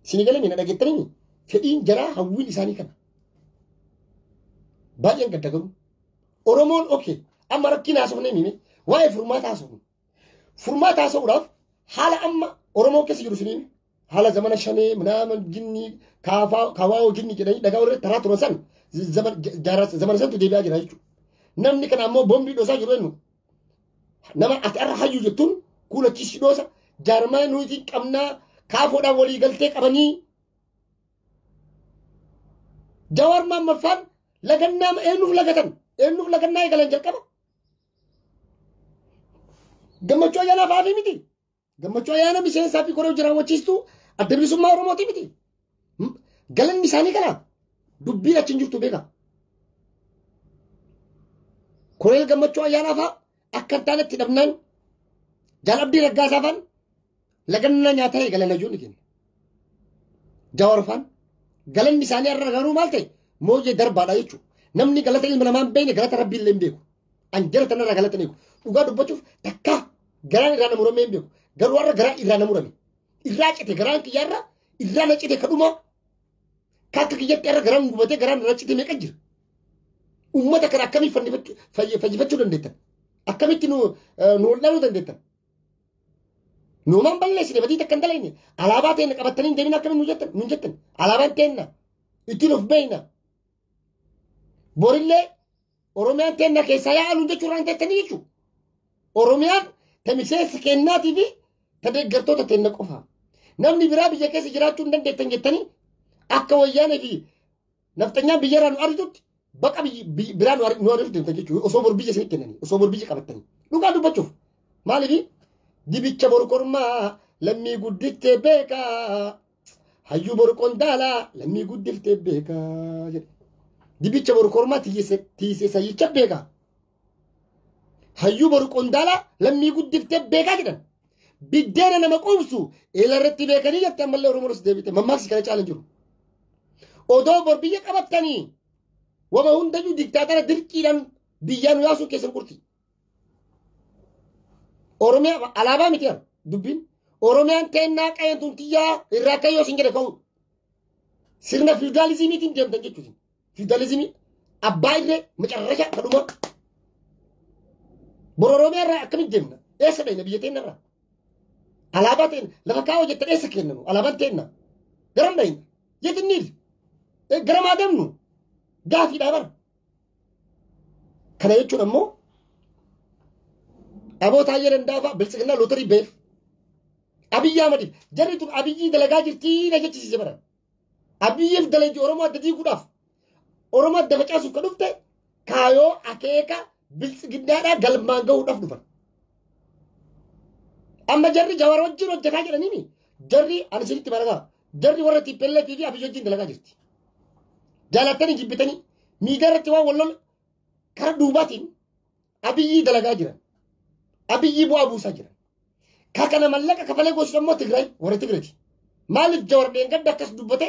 Isin galame na dhageettanii fedhiin jaraa hawwiin isaanii kana. Baay'een gadda garuu. Oromoon oke amma rakkina haasofnee mime waa'ee furmaata haasofnu. Furmaata haasa'uudhaaf haala amma Oromoo keessa jiru isiniin haala zamana shanee minaaman jinnii kaafaa kawaawoo jinnii jedhanii dhagaa warra taraa turan san zaman- ja- jaarraa- zamana santu deebi'aa jira jechuudha. Namni kana ammoo boombii dhoosaa jiru eenyu? Nama ati irra hayyuu jettuun kuulachiisii dhoosa jaarmaa nuti qabnaa kaafoodhaan walii galtee qabanii Jawaar Maammaffaan lagannaa eenyuuf lagatan? Eenyuuf lagannaa eegalan jalqaba? Gammachuu ayyaanaaf haafii miti. Gammachuu ayyaana miseensaa fi koree hojii raawwachiistuu adda bilisummaa Oromooti miti. Hmm? Galanni isaanii kana dubbiin achi hin jirtu beeka. Koree gammachuu ayyaanaaf haa akka hin taane itti dhabnaan jaal abdii raggaasaafan Lagannaa nyaataa eegala lajoonni keenya. Jawaarfaan galanni isaanii irra garuu maal ta'e mooyyee darbaadha jechuudha. Namni galata ilma namaa hin beekne galata rabbii illee hin beeku. An jara tanarraa galata hin eegu. Dhugaa dubbachuuf takka garaan irraa na muramee hin beeku. Garuu har'a garaan irraa na murame. Irraa cite garaan kiyyaa irra irraa na cite kadhuma. Ka akka kiyyatti irra garaan gubatee garaan irra cite meeqa jira. Uummata kana akkamii fayyifachu- fayyi- fayyifachuu dandeettan? Akkamitti nu eh, nu wal'aanuu dandeettan? Nuumaan balleessine badii takka hin dalayne. Alaabaa teenna qabattanii hin deemin akkamiin nu jettan? Nun jettan. Alaabaan teenna. Ittiin of beeyna. Borillee Oromiyaan teenna keessaa yaa aluun jechuu irraa hin teettanii jechuu. Oromiyaan ta miseensa keennaatii fi ta deeggartoota teenna qofa. Namni biraa biyya keessa jiraachuu hin dandeettan jettanii akka wayyaanee fi Nafxanyaan biyyarraa nu ariitutti baqa biyyi- biyyi- biraa nu ari- nu ariitu deemta jechuudha. Osoo bor biyya isinitti kennanii, osoo bor biyya qabattanii. Dhugaa dubbachuuf. Maaliif? Dibicha bor kormaa lammii guddiftee beekaa. Hayyuu bor qondaalaa lammii guddiftee beekaa jedhe. Dibicha bor kormaa tiise tiise sayyicha beekaa. Hayyuu boru qondaalaa lammii guddiftee beekaa jedhan. Biddeena nama quubsu eela irratti beekanii jette ammallee Oromoo irratti deebite mammaaksi kana caalan jiru. Odoo bor biyya qabattanii wama hundayyuu diktaatara dirqiidhaan biyyaa nu yaasuu keessan qurti. Oromiyaa alaabaa miti jedha dubbiin. Oromiyaan teennaa qa'een tun tiyyaa irraa kayyoo isin jedhe ka'u. Sirna fiwdaalizimiitiin deemtan jechuudha. Fiwudalizimii abbaa irree macarrasha kadhumaa. Bor Oromiyaa irraa akkamitti deemna? Eessa dhayna biyya teenna irraa? Alaabaa teenna lafa kaa'oo jettan eessa kennanu? Alaabaan teenna garam dhayna? Yetin niil garam haa deemnu? Gaafiidhaa bara. Kana jechuun ammoo aboo taayyee dandaafaa biltsiginnaa lootarii beef. Abiyyi Ahmadiif jarri tun abiyyii dalagaa jirtii na jechisiise bara. Abiyyiif dalaji Oromoo adda diiguudhaaf Oromoo adda facaasuuf kan dhufte kaayoo akeeka biltsiginnaadhaa galmaan gahuudhaaf dhufan. Amma jarri jawar wajjin hojjetaa jedhaniini jarri ani isinitti barataa jarri warra TPLF fi Abiyyi wajjin dalagaa jirti. Jaalattanii jibbitanii miidiyaa irratti waan wal lola karaa duubaatiin Abiyyii dalagaa jiran. Abiyyii bu'aa buusaa jiran. Ka kana mallaqa kafalee goosisu ammoo Tigraay warra Tigraati. Maaliif jawar dheengadda akkas dubbate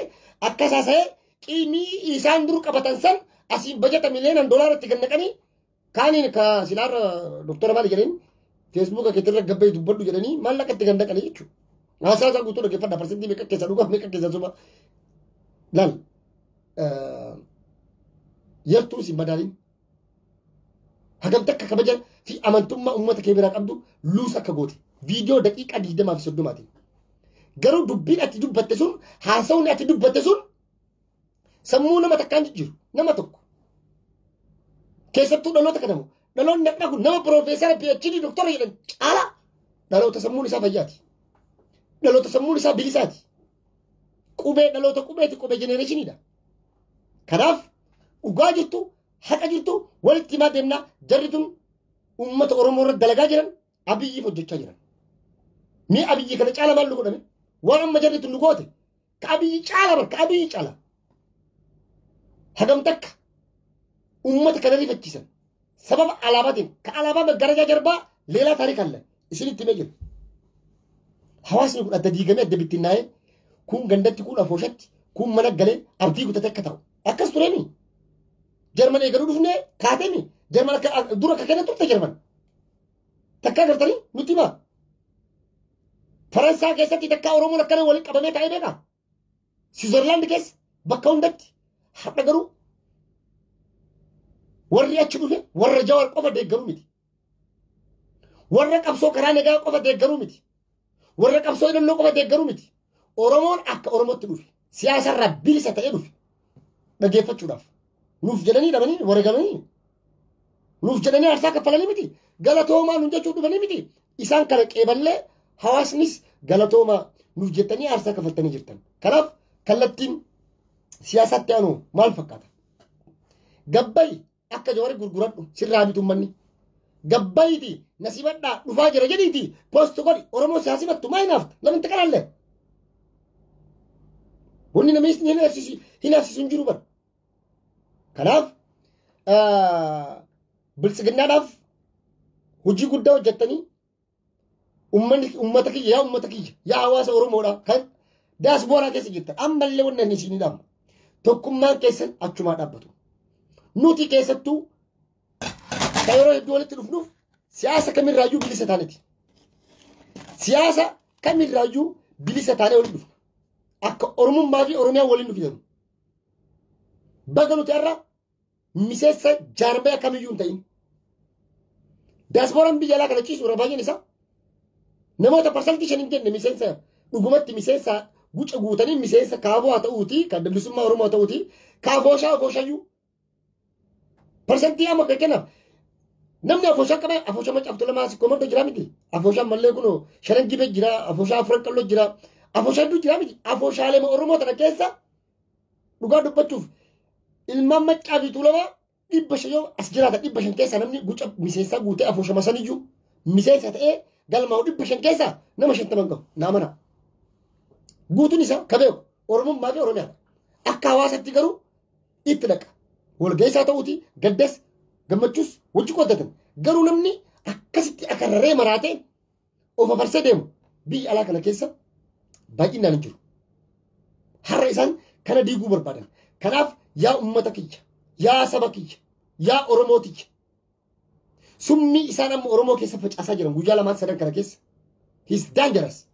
akkas haasa'ee qiimii isaan dur qabatan san asiin bajata miliyoonaan doolaara itti gannaqanii kaaniin ka silaarra doktora maali jedheen feesbuuka keetirra gabbee dubbadhu jedhanii maallaqa itti gannaqanii jechuudha. Haasaa isaa guutuu dhaggeeffadha parsantii meeqa keessa dhugaaf meeqa keessa suba laal yartuu si madaaliin. Hagam takka kabaja fi amantummaa uummata kee biraa qabdu luus akka goote. Viidiyoo daqiiqaa digdamaa fi soddomaatiin. Garuu dubbiin ati dubbatte sun haasawni ati dubbatte sun sammuu nama takkaan jijjiiru nama tokko. Keessattuu dhaloota kanamu dhaloonni har'aa kun nama piroofeesara PhD doktora jedhan caalaa dhaloota sammuun isaa fayyaati. Dhaloota sammuun isaa bilisaati. Qubee dhaloota qubeeti qubee jenereeshiniidha. Kanaaf dhugaa jirtu haqa jirtu walitti himaa deemnaa jarri tun uummata Oromoo irra dalagaa jiran abiyyiif hojjechaa jiran. Mee abiyyi kana caala maal nu godhame? Waan amma jarri tun nu goote ka abiyyi caala bar ka abiyyi caala. Hagam takka uummata kana rifachiisan sababa alaabaatiif ka alaabaa maggarajaa jarbaa leelaa taariik alle isinitti himee jira. Hawaasni kun adda diigamee adda bittinnaa'ee kun gandatti kun afooshatti kun mana galee abdii gutatee akka ta'u akkas tureemi. Jarman eegaluu dhufnee kaateemi. Jarman akka dura akka kenna turte Jarman. Takkaa gartanii nutti himaa. Faransaa keessatti takkaa Oromoon akkana waliin qabamee taa'ee beekaa? Siwiizerlaand keessa bakka hundatti har'a garuu warri achi dhufe warra jawar qofa deeggaruu miti. Warra qabsoo karaa nagaa qofa deeggaruu miti. Warra qabsoo hidhannoo qofa deeggaruu miti. Oromoon akka Oromootti dhufe siyaasarraa bilisa ta'ee dhufe. dhaggeeffachuudhaaf nuuf jedhanii dhabanii wareegamanii nuuf jedhanii aarsaa kaffalanii miti galatoomaa nuun jechuu dhufanii miti isaan kana qeeballee hawaasnis galatoomaa nuuf jettanii aarsaa kaffaltanii jirtan kanaaf kallattiin siyaasaatti aanu maal fakkaata gabbayi Akka jawari gurguradhu sirraa bitu ummanni. Gabbayiti nasibadhaa dhufaa jira jedhiiti post godhi Oromoo siyaa simattu maa hinaafta lamin taqalaallee. Wanni namni isin hinaafsisu hinaafsisu hin jiru bara. Kanaaf biltsiginnaadhaaf hojii guddaa hojjettanii Ummanni ummata kiyya yaa ummata kiyya yaa hawaasa Oromoodha kan daasbooraa keessa jirtan ammallee wanna inni isinii dhaamu tokkummaan keessan achumaa dhaabbatu. Nuti keessattuu kan yeroo hedduu walitti dhufnuuf siyaasa kamirraayyuu bilisa taaneti. Siyaasa kamirraayyuu bilisa taanee walitti dhufna. Akka Oromummaa fi Oromiyaa waliin nu fidan. Baga nuti har'a miseensa jaarmaya kamiyyuu hin ta'in. Daasbooraan biyya alaa kana ciisu irra baay'een isaa namoota parsantii shan hin jenne miseensa dhugumatti miseensa guca guutanii miseensa kaaboo haa ta'uuti kan bilisummaa Oromoo haa ta'uuti kaafooshaa afooshaayyuu parsantii amma fakkeenyaaf namni afooshaa qaba afooshaa macaaf tolamaa si komarta jira miti afooshaa mallee kunoo shanan jibee jira afooshaa afuran qalloo jira afooshaa hedduu jira miti afooshaalee Oromoo tana keessa Dhugaa dubbachuuf ilmaan maccaa fi tuulamaa dhibba shan yoo as jiraata dhibba shan keessaa namni guca miseensaa guutee afuushama saniyyuu miseensa ta'ee galmaa'u dhibba shan keessaa nama shantaman gahu naa mana. Guutuun isaa ka beeku Oromummaa fi Oromiyaadha. Akka hawaasatti garuu itti dhaqa. Walgeessaa ta'uuti gaddas gammachuus wajji qooddatan. Garuu namni akkasitti akarraree maraatee of afarsee deemu biyya alaa kana keessa baay'inaan hin jiru. Har'a isaan kana diiguu barbaadan. Kanaaf yaa uummata kiyya, yaa saba kiyya, yaa Oromoo tiyya. Summii isaan amma Oromoo keessa facaasaa jiran guyyaa lamaan sadan kana keessa. He's dangerous.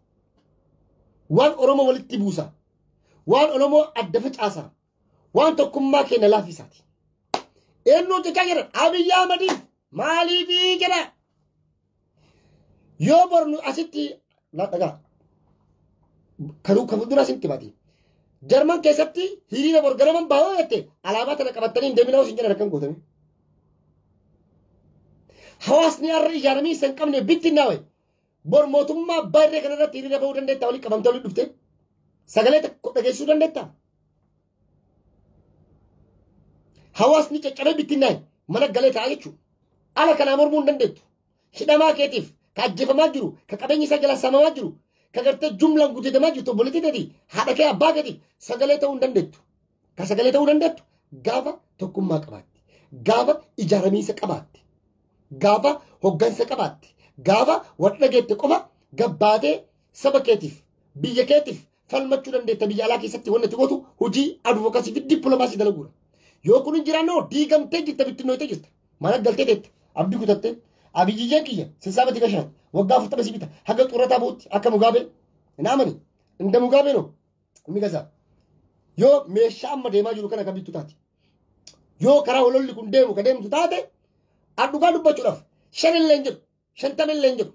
Waan Oromoo walitti buusa. Waan Oromoo adda facaasa. Waan tokkummaa keenya laafisaati. Eenyu hojjechaa jiran? Abiyyi Ahmadiif maaliif jedha? Yoo bornu asitti dhagaa kan kan fuuldura asitti mati. Jarman keessatti hiriira bor ganaman baay'oo jette alaabaa tana qabattanii hin deeminaa osin jedhan akkam gootanii. Hawaasni har'a ijaaramee isa hin qabne bittinnaa wayi. Bor mootummaa baay'ee kanarratti hiriira bahuu dandeettaa waliin qabamtee waliin dhuftee sagalee tokko dhageessisuu dandeettaa? Hawaasni caccabee bittinnaa'e mana galee ta'a jechuudha. Ala kanaa mormuu hin dandeettu. Hidhamaa keetiif ka ajjeefamaa jiru, ka qabeenya isaa jala samamaa jiru, ka gartee jumlaan gudeedamaa jirtu obboleettii teeti haadha kee abbaa keetiif sagalee ta'uu hin dandeettu. Ka sagalee ta'uu dandeettu gaafa tokkummaa qabaatti. Gaafa ijaaramiinsa qabaatti. Gaafa hoggansa qabaatti. Gaafa wal dhageette qofa gabbaatee saba keetiif, biyya keetiif, falmachuu dandeetta biyya alaa keessatti wanti gotu hojii advocacy fi diplomacy dalaguudha. Yoo kun hin jiraanne hoo diigamtee jirta bittinnooytee jirta. Mana galtee teette abdii kutattee abiyyiyyeen kiyya sissaaba tiga shan waggaa afurtama si bita haga xurrataa ba'utti akka mugaabee naamani inda mugaabee noo inni gasaa. Yoo meeshaa amma deemaa jiru kana kan bittu taate yoo karaa hololli kun deemu kan deemtu taate adhugaa dubbachuudhaaf shan illee hin jedhu shantama illee hin jedhu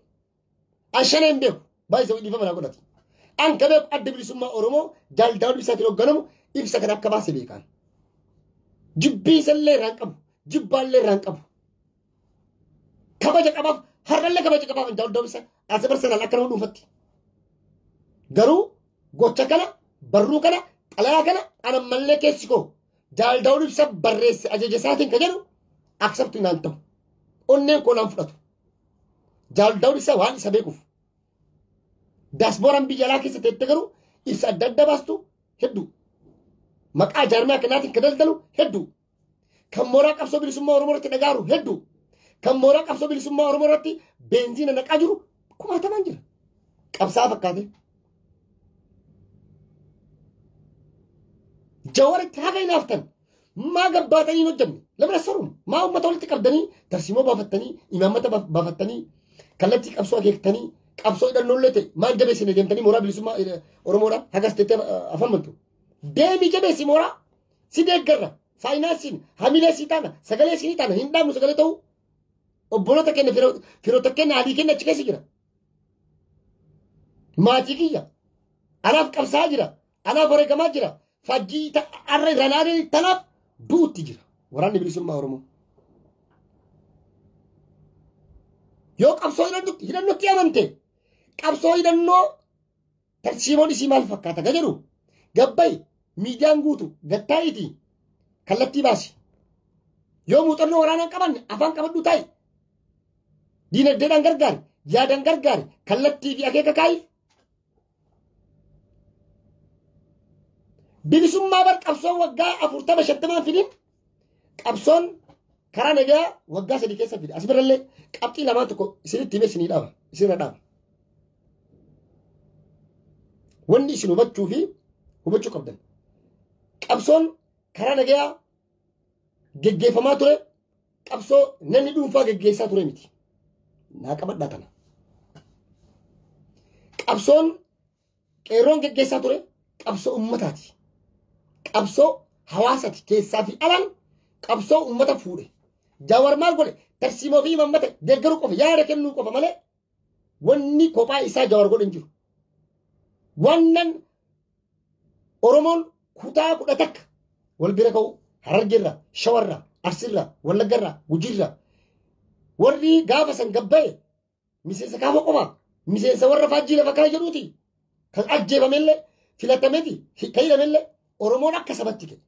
Ashanee hin beeku. Baay'isa dhiifama naa godhati. An ka beeku adda bilisummaa Oromoo jaal Daawud Ibsaatiin hoogganamu ibsa kana akka baase beekaan. Jibbii isallee irraa hin qabu. Jibbaallee irraa hin qabu. Kabaja qabaaf har'allee kabaja qabaaf jaal Daawud Ibsaa as barsanaan akka nama dhuunfatti. Garuu gocha kana barruu kana xalayaa kana an ammallee keessi koo jaal Daawud Ibsaa barreesse ajaja isaatiin ka jedhu aksabtu naan ta'u. Onneen koo naan fudhatu. Jaal Daawud Ibsaa waan isa beekuuf. Daasbooraan biyya alaa keessa teette garuu ibsa adda addaa baastu hedduu. Maqaa jaarmiyaa kanaatiin kan daldalu hedduu. Kan mooraa qabsoo bilisummaa Oromoo irratti dhagaaru hedduu. Kan mooraa qabsoo bilisummaa Oromoo irratti beenziina naqaa jiru kumaatamaan jira. Qabsaa fakkaatee. Jawaritti haga hinaaftan Maa gabbaatanii hin hojjenne? Lamina saruun maa uummata walitti qabdanii tarsiimoo baafattanii imaammata baaf- baafattanii kallattii qabsoo akeektanii qabsoo hidhannoollee ta'e maal jabeessine deemtanii mooraa bilisummaa eh, Oromoodhaan hagas tettee eh, afaan bantu. Deemii jabeessi mooraa si deeggarra faayinaansiin hamilee si taana sagalee si ni taana hin dhaabnu sagalee ta'uu obboloota keenya firo- firoota keenya adii keenya achi keessa jira. Maatii kiyya anaaf qabsaa jira. Anaaf wareegamaa jira. Fajjii ta- arra irra ilaalee tanaaf duutti jira. Waraanni bilisummaa Oromoo. Yoo qabsoo hidhannootti hidhannootti amante qabsoo hidhannoo tarsiimoon isii maal fakkaata ga jedhu gabbay miidiyaan guutu gattaa'iiti kallattii baasi. Yoo muuxannoo waraanaan qabanne afaan qabadhu taa'i. Diinagdeedhaan gargaari, yaadaan gargaari, kallattii fi akeeka kaa'i Bilisummaa bar qabsoon waggaa afurtama shantamaan fidin qabsoon karaa nagaa waggaa sadii keessa fida. As birallee qabxii lamaan tokko isinitti himee isinii dhaaba. Isinirra dhaaba. Wanni isin hubachuu fi hubachuu qabdan. Qabsoon karaa nagaa geggeeffamaa ture qabsoo namni dhuunfaa geggeessaa ture miti. Naa qabadhaa kana. Qabsoon qeerroon geggeessaa ture qabsoo ummataati. Qabsoo hawaasati keessaa fi alaan qabsoo ummata fuudhe. Jawaar maal godhe? Tarsiimoo fi imammata deeggaruu qofa yaada kennuu qofa malee Wanni kophaa isaa Jawar godhe hin jiru. Wannan Oromoon kutaa kudha takka wal bira ka'u Harargeerra, Shawarra, Arsiirra, Wallaggarra, Gujiirra. Warri gaafa san gabba'e miseensa kaafa qofaa miseensa warra faajjii lafa kaa jedhuuti. Kan ajjeefamellee filatamee fi kan hidhamellee Oromoon akka sabatti ka'e.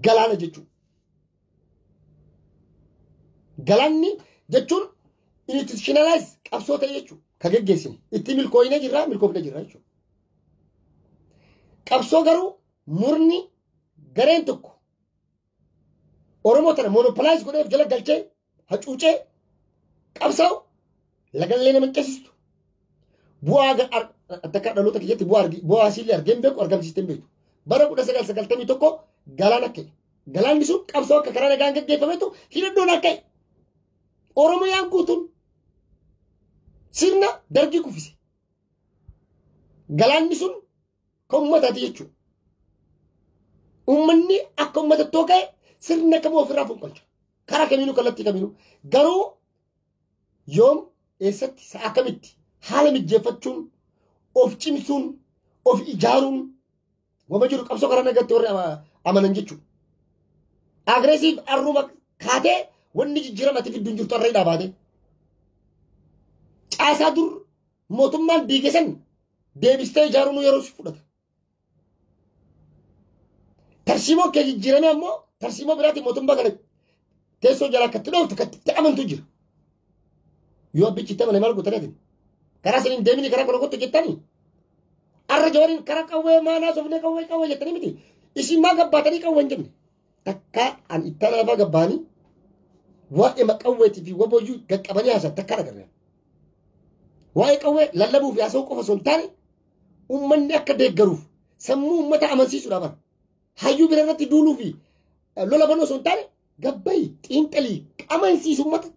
Galaana jechuun. Galaanni jechuun institutionalize qabsoo ta'e jechuudha. Kan geggeessine. Itti milkooyinee jirra, milkoofne jirra jechuudha. Qabsoo garuu murni gareen tokko Oromoo tana monopolize godhee of jala galchee hacuucee qabsaa'u lagallee nama hin ceesistu. Bu'aa ga- ar- takka dhaloota kiyyatti bu'aa argi- bu'aa asiillee argee hin beeku argamsiistee hin beektu. Bara 1991 galaan akka galaanni sun qabsoo akka karaa nagaan gaggeeffametu hidhadhoon akka Oromiyaan guutuun sirna dargii kuffise. Galaanni sun Kan uummataati jechuudha. Uummanni akka uummatatti yoo ka'e sirna kamuu ofirraa fonqolcha. Karaa kamiinuu kallattii kamiinuu. Garuu yoom eessatti sa'a akkamitti haala mijjeeffachuun of cimsuun of ijaaruun wama jiru qabsoo karaa nagaatti warri ama- amanan jechuudha. Agresiif arruma kaatee wanni jijjiiramati fiddu hin jirtu arra hidhaa baatee. Caasaa dur Mootummaan diige san deebistee ijaaruun yeroo si fudhata. Tarsiimoon kee jijjiiramee ammoo tarsiimoo biraatiin mootummaa kana teessoo jalaa akka itti dhooftu akka itti amantu jira. Yoo abbichi itti amane maal goota latin? Karaa saniin deemini karaa kana kottu jettanii? Arra jawariin karaa qawwee maanaa sofnee qawwee qawwee jettanii miti. Isin maa gabbaatanii qawwee hin jenne? takka an ittana lafa gabbaani waa'ee maqawweetii fi waboyyuu gaqqabanii haasan takka dhagarre. Waa'ee qawwee lallabuu fi haasa'uu qofa osoo hin taane uummanni akka deeggaruuf sammuu uummata amansiisuudha bara. Hayyuu bira irratti duuluu fi lola banuu osoo hin taane gabbayi xiinxalii qamansiisu uummata.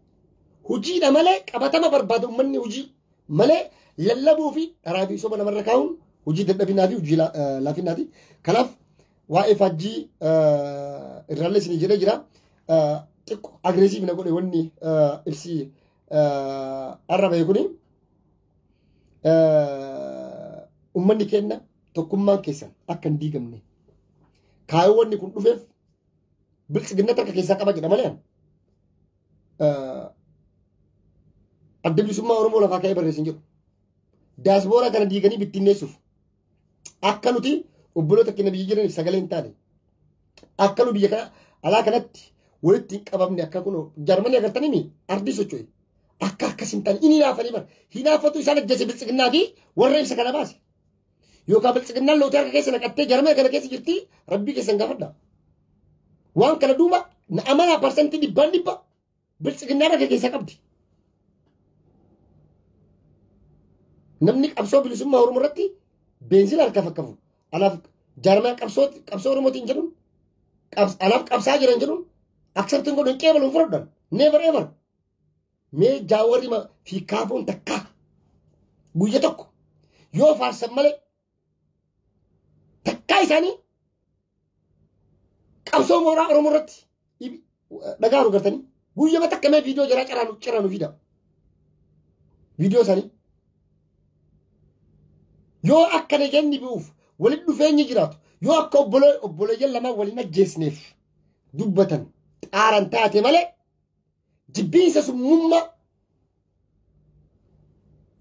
Hojiidha malee qabatama barbaada uummanni hojii malee lallabuu fi dharaa fi soba namarra kaa'uun hojii dadhabinaa fi hojii laafinaati. Kanaaf waa'ee faajjii irraallee isin jedhee jira. Xiqqoo agreesiif na godhe wanni ibsi arra bahe kuni. Uummanni keenya tokkummaan keessan akka hin diigamne. Kaayoo wanni kun dhufeef bilchiginna takka keessaa qaba jedha malee. Adda bilisummaa Oromoo lafaa ka'ee barreessin jedhu. Daasbooraa kana diiganii bittinneessuuf. Akka nuti obboloota keenya biyya jiraniif sagalee hin taane. Akka nu biyya kana alaa kanatti walitti hin qabamne akka kun jarmanii agartanii mi ardii socho'e. Akka akkas hin taane inni hinaafanii bara. Hinaafatu isaan ajjeese biltsiginnaa fi warra ibsa kana baase. Yookaan biltsiginnaan lootii harka keessa naqattee jarmanii kana keessa jirti rabbii keessan gaafadha. Waan kana duuba na amanaa parsantii dhibbaan dhibba Biltsiginnaa rakkoo keessa qabdi. Namni qabsoo bilisummaa Oromoo irratti beenzila harkaa fakkafu. Alaaf jaarmaa qabsoo qabsoo Oromootiin jedhuun alaaf qabsaa jiran jedhuun akseptiin godhu hin qeebalu hin fudhadhan. Never ever. Mee jaawarri fi kaafoon takkaa guyya tokko yoo faarsan malee Takkaa isaanii qabsoo mooraa Oromoo irratti dhibi- dhaga'aanu gartanii guyyama takka mee viidiyoo jaraa caraanu caraanu fidaa. Viidiyoo isaanii. Yoo akka nageenyi bu'uuf walitti dhufeenyi jiraatu yoo akka obbolee obboleeyyan lamaan waliin ajjeesneef dubbatan xaaran taate malee jibbiinsa summummaa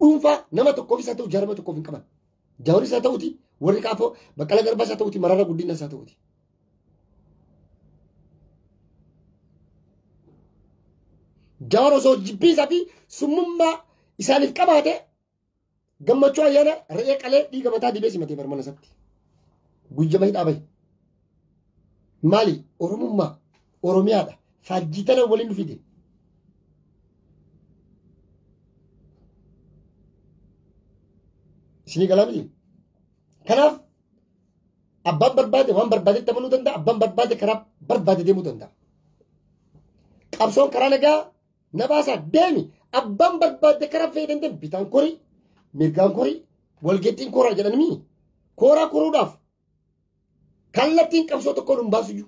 dhuunfaa nama tokkoof isaa ta'u jaarma tokkoof hin qaban. Jaawar isaa ta'uti warri kaafoo baqqala garbaa isaa ta'uti marara guddina isaa ta'uti. Jaawar osoo jibbiinsaa fi summummaa isaaniif qabaate Gammachuu ayyaana re'ee qalee dhiiga mataa dibee simatee bar mana isaatti. Guyyama hidhaa bahe. Maali Oromummaa Oromiyaadha. Faajjii tana waliin nu fide. Isinii galaa miti. Kanaaf abbaan barbaade waan barbaadetti amanuu danda'a. Abbaan barbaade karaa barbaade deemuu danda'a. Qabsoon karaa nagaa na baasaa deemi abbaan barbaadde karaa fe'ee dandeen bitaan korii mirgaan korii walgeettiin koraa jedhan mii kooraa koruudhaaf kallattiin qabsoo tokkoon hin baasuyyu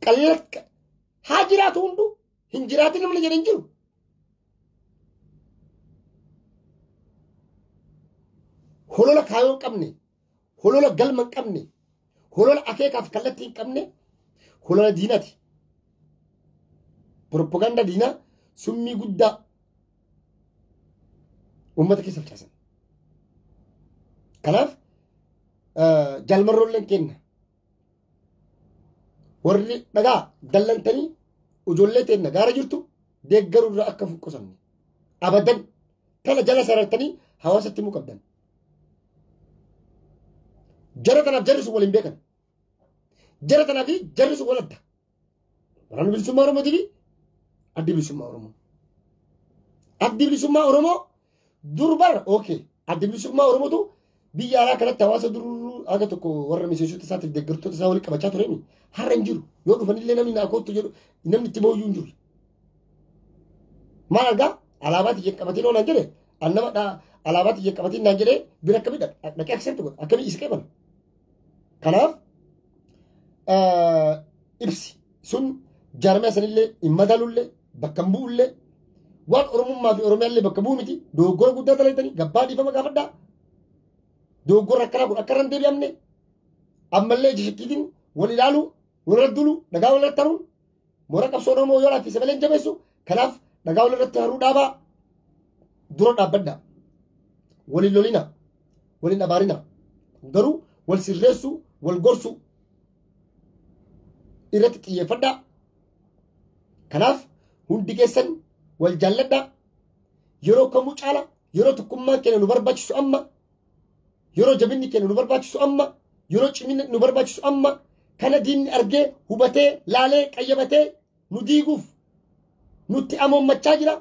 qallakka haa jiraatu hunduu hin jiraatin namni jedhan jiru holola kaayoo hin qabne holola galma hin qabne holola akeekaaf kallattii hin qabne holola diinati propaganda diinaa summii guddaa uummata keessa facaasan kanaaf jaalmarroolleen kenna warri dhagaa dallantanii ijoollee teenna gaara jirtu deeggaruurraa akka hin qusanne abadan tana jala sarartanii hawaasatti himuu qabdan Jara tanaaf jarri sun waliin beekan. Jara tanaa fi jarri sun wal adda. Waraanni bilisummaa Oromootii fi addi bilisummaa Oromoo. Addi bilisummaa Oromoo durbarra okay. Addi bilisummaa Oromootu biyya alaa kanatti hawaasa duruu haga tokko warra miseensota isaatiif deeggartoota isaa walitti qabachaa tureen har'a hin jiru. Yoo dhufanillee namni naa koottu jedhu namni itti booyyuu hin jiru. Maal argaa alaabaatti jeqqabatiin oolan jedhe an nama dhaa alaabaatti jeqqabatiin naan jedhee bira akkamii dhaqee accept godha akkamii isa qeebala. Kanaaf ibsi sun jaarmee sanillee hin madaalullee bakka hin bu'ullee waan oromummaa fi oromiyaallee bakka bu'u miti dogoggora guddaa dalaydanii gabbaa dhiifama gaafadhaa dogoggora akkanaa kun akka irra hin deebi'amne ammallee jishikkiitiin wal ilaaluu wal irra duuluu dhagaa wal irra taruun Moora qabsoo Oromoo yoo laaffise malee hin jabeessu. Kanaaf dhagaa wal irratti haruu dhaabaa dura dhaabbadha. Waliin lolina. Waliin abaarina. Garuu wal sirreessuu, wal gorsuu irratti xiyyeeffadha. Kanaaf hundi keessan wal jaalladha. Yeroo kamuu caala yeroo tokkummaan keenya nu barbaachisu amma Yeroo jabinni keenya nu barbaachisu amma, yeroo ciminni nu barbaachisu amma, kana diinni argee, hubatee, laalee, qayyabatee nu diiguuf nutti amoommachaa jira.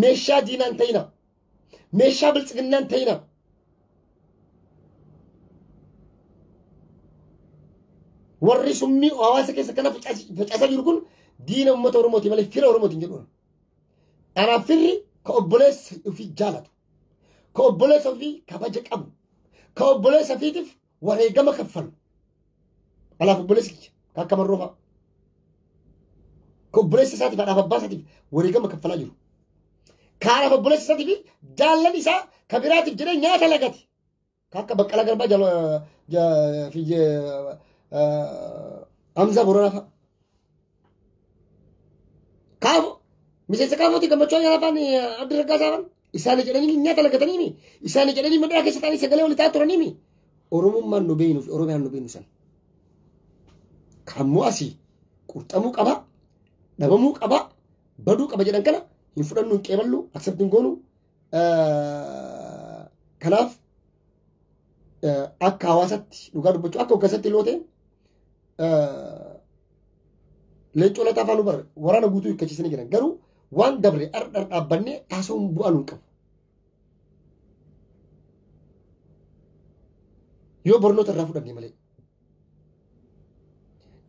Meeshaa diinaan ta'ina. Meeshaa biltsiginnaan ta'ina. Warri summii hawaasa keessa kana facaas- facaasaa jiru kun diina uummata Oromooti malee fira Oromootiin jedhuun. Anaaf firri ka obboleessa ofii jaalatu. ka obboleessa ofii kabaja qabu ka obboleessa ofiitiif wareegama kaffalu anaaf obboleessi kiyya ka akka marroo fa'a ka obboleessa isaatiif anaaf abbaa isaatiif wareegama kaffalaa jiru ka anaaf obboleessa isaatiif jaallan isaa ka biraatiif jedhee nyaata lagate Ka akka Baqqalaa Garbaa jala ja- fi ja- ah, Hamzaa Booranaa fa'a. Kaafo miseensa kaafooti gammachuu ayyaanaa fa'aan adda raggaasaa fa'aan isaanii jedhanii nyaata lagatanii mi isaanii jedhanii madara keessa ta'anii sagalee waliin ta'aa turanii mi Oromummaan nu beeknu fi Oromiyaan nu beeknu san. Kammoo asii qurxamuu qaba dhabamuu qaba baduu qaba jedhan kana hin fudhannu hin qeeballu aksepti hin goonu Kanaaf akka hawaasatti dhugaa dubbachuu akka hoggasatti iloo ta'e leencoo lataa afaan barre waraana guutuu hiikkachiisanii jiran garuu waan dabre dhardhar dhaabbannee haasawuun bu'aa nuun qabu. Yoo barnoota irraa fudhanne malee.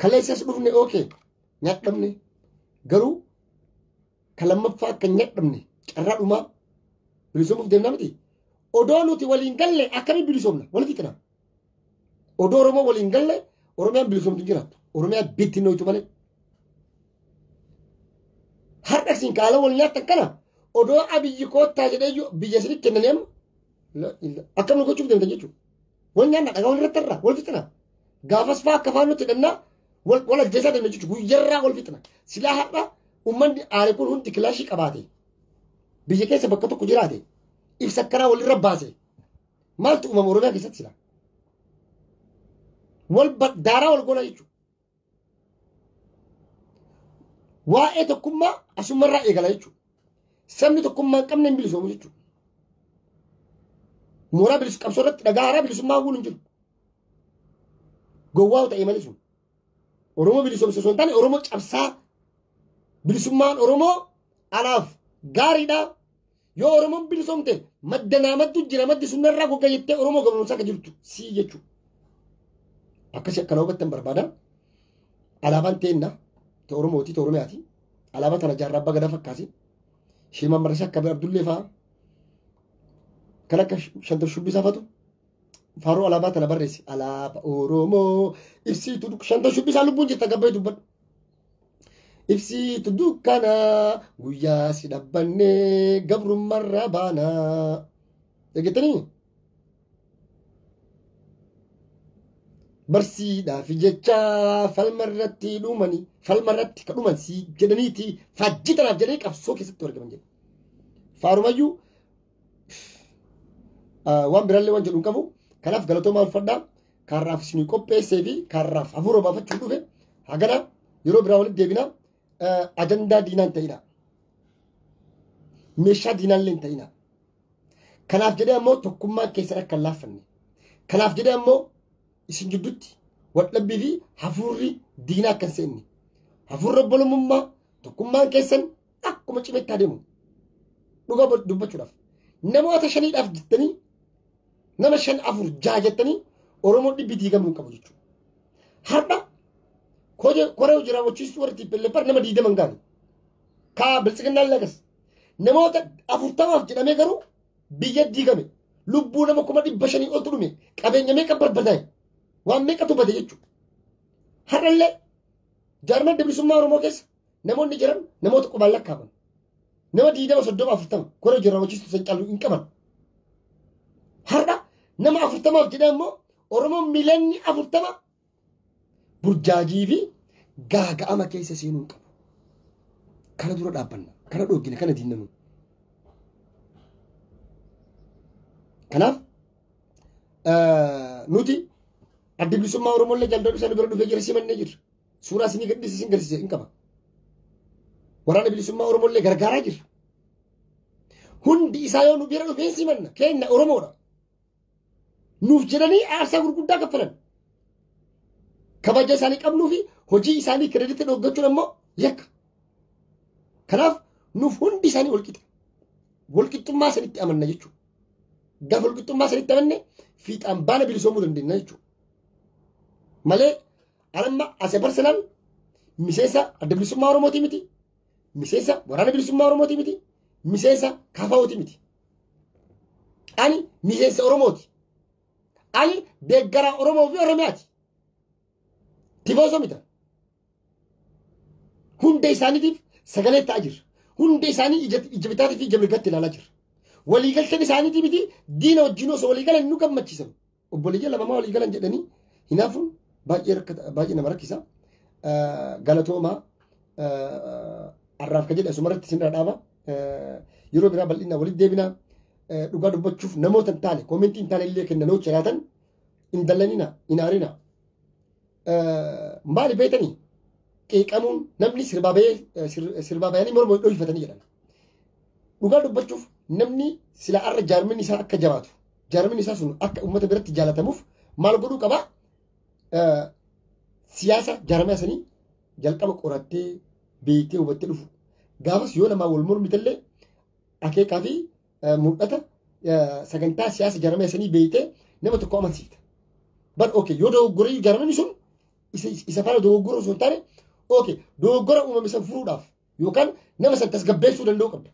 Kaleessas dhufne ookee nyaadhamne garuu ka lammaffaa akka hin nyadhamne carraa dhumaa bilisoomuuf deemna miti. Odoo nuti waliin galle akkamiin bilisoomna walitti qinaa. Odoo Oromoo waliin galle Oromiyaan bilisoomtu hin jiraattu. Oromiyaa bittinnooytu malee. Har'a isin kaala wal nyaattan kana odoo abiyyi koottaa jedhee iyyuu biyya isin kennanii amma la- la- akkam nu gochuuf deemtan jechuudha. Wal nyaanna dhagaa wal irratti irraa wal fixina. Gaafas fa'aa akka fa'aa nutti hidhannaa wal wal ajjeesaa deemna jechuudha. Guyyarraa wal fixina. Silaa har'a Uummanni aare kun hundi kilaashii qabaate biyya keessa bakka tokko jiraate ibsa akkanaa walirra baase maaltu uumama Oromiyaa keessatti sila? Wal ba- daaraa wal goona jechuudha. Waa'ee tokkummaa asumarraa eegala jechuudha. Sabni tokkummaa hin qabne hin bilisoomu jechuudha. Mooraa bilisummaa qabsoo irratti dhagaa haaraa bilisummaa hawwuun hin jiru. Gowwaa ta'e malee sun. Oromoo bilisoomsu osoo hin taane Oromoo cabsaa bilisummaan Oromoo alaaf gaariidha. Yoo Oromoon bilisoomte madda naamattu jira maddi sun irraa gogga jettee Oromoo gabromsaa akka jirtu sii jechuudha. Akkasii akkana hubattan barbaada. Alaabaan teenna ta Oromooti ta Oromiyaati. Alaabaa tana jaarraa abbaa gadaa fakkaasi. Sheemaan Marrasaa akka Abdullee fa'aa kan akka shantar shubbisaa fa'atu faaruu alaabaa tana barreessi alaaba oromoo ibsiitu duk- shanta shubbisaa lubbuun jirta gabbee dubbadhu ibsiitu dukkana guyyaa si dhabbanne gabrummarra baana dhageettanii barsiidhaaf jecha falmarratti dhumani falmarratti ka dhuman si jedhaniiti faajjii tanaaf jedhanii qabsoo keessatti argaman jedhu faarumayyuu waan biraallee waan jedhu hin qabu kanaaf galatoomaa ulfadhaa kaarraaf isinii qopheessee fi kaarraaf hafuura baafachuu dhufe hagana yeroo biraa walitti deebina ajandaa diinaan ta'ina meeshaa diinaallee hin ta'ina kanaaf jedhee ammoo tokkummaan keessan akka hin laaffanne kanaaf jedhee ammoo isin gidduutti wadhabbii fi hafuurri diinaa akka hin seenne hafuurri obbolummaa tokkummaan keessan akkuma cimetti adeemu dhuga dubbachuudhaaf namoota shaniidhaaf jettanii nama shan afur jaha jettanii oromoo dhibbi diigamuu hin qabu jechuudha. Har'a koree hojii raawwachiistuu warra tiippilleeffar nama diidaman gaane kaa biltsiginnaan lagas namoota afurtamaaf jedhamee garuu biyya diigame lubbuu nama kuma dhibba shanii oltu dhume qabeenya meeqa barbadaa'e waan meeqatu bade jechuudha. Har'allee jaarman dabrisummaa Oromoo keessa Namoonni jiran namoota qubaan lakkaaman. Nama diidama soddoma afurtama kora hojii raawwachiistu san caalu hin qaban. Har'a nama afurtamaaf jedhee immoo Oromoon miliyoonni afurtama burjaajii fi gaaga'ama keessa seenuu hin qabu. Kana dura dhaabbanna. Kana dhoogina. Kana diinna nuyi. Kanaaf nuti adda bilisummaa Oromoo illee jaldoo dhufee nu bira dhufee jira simannee jirra. Suuraa isinii gadhiisi isin galchise hin qaba. Waraana bilisummaa Oromoo illee gargaaraa jirra. Hundi isaa yoo nu bira dhufee simanna keenya Oromoodha. Nuuf jedhanii aarsaa gurguddaa kaffalan. Kabaja isaanii qabnuu fi hojii isaanii kireeditti dhoggachuun ammoo yakka. Kanaaf nuuf hundi isaanii walqixa. Walqixxummaa sanitti amanna jechuudha. Gaafa walqixxummaa sanitti amanne fiixaan baana bilisoomuu dandeenya jechuudha. Malee An amma as a personal miseensa adda bilisummaa Oromootii miti. Miseensa waraana bilisummaa Oromootii miti. Miseensa kafaa'ootii miti. Ani miseensa Oromooti. Ani deeggaraa Oromoo fi Oromiyaati. Tifoosoo mita. Hunda isaaniitiif sagalee ta'aa jirra. Hunda isaanii ija ija bitaatii fi ija mirgaatti ilaalaa jirra. Waliigalteen isaaniitii miti diina wajjin osoo waliigalan nu gammachiisan. Obboleeyyan lama maa walii galan jedhanii hinaafuun baay'ee rakkata baay'ee nama rakkisa. Eh, Galatoomaa eh, har'aaf ka jedhe asumarratti isin irra dhaaba. Eh, Yeroo biraa bal'inaa walitti deebinaa eh, dhugaa dubbachuuf namoota hin taane koomentii hin taane illee kennanoo jiraatan hin dallanina hin aarina. maali beetanii qeeqamuun namni sirbaa bahee sirbaa bahanii morma dhohifatanii jedhan. Dhugaa dubbachuuf namni sila arra jaarmin isaa akka jabaatu jaarmin isaa sun akka uummata biratti jaalatamuuf maal godhuu qaba? Siyaasa jaarmee sanii jalqaba qorattee beektee hubattee dhufu. Gaafas yoo namaa wal mormitellee akeekaa fi mul'ata sagantaa siyaasa jarama isanii beeytee nama tokko amansiifta. Bar oke yoo dogoggora jaramni sun isa faana dogoggora osoo hin taane oke dogoggora uumame san furuudhaaf yookaan nama san tasgabbeessuu danda'uu qabda.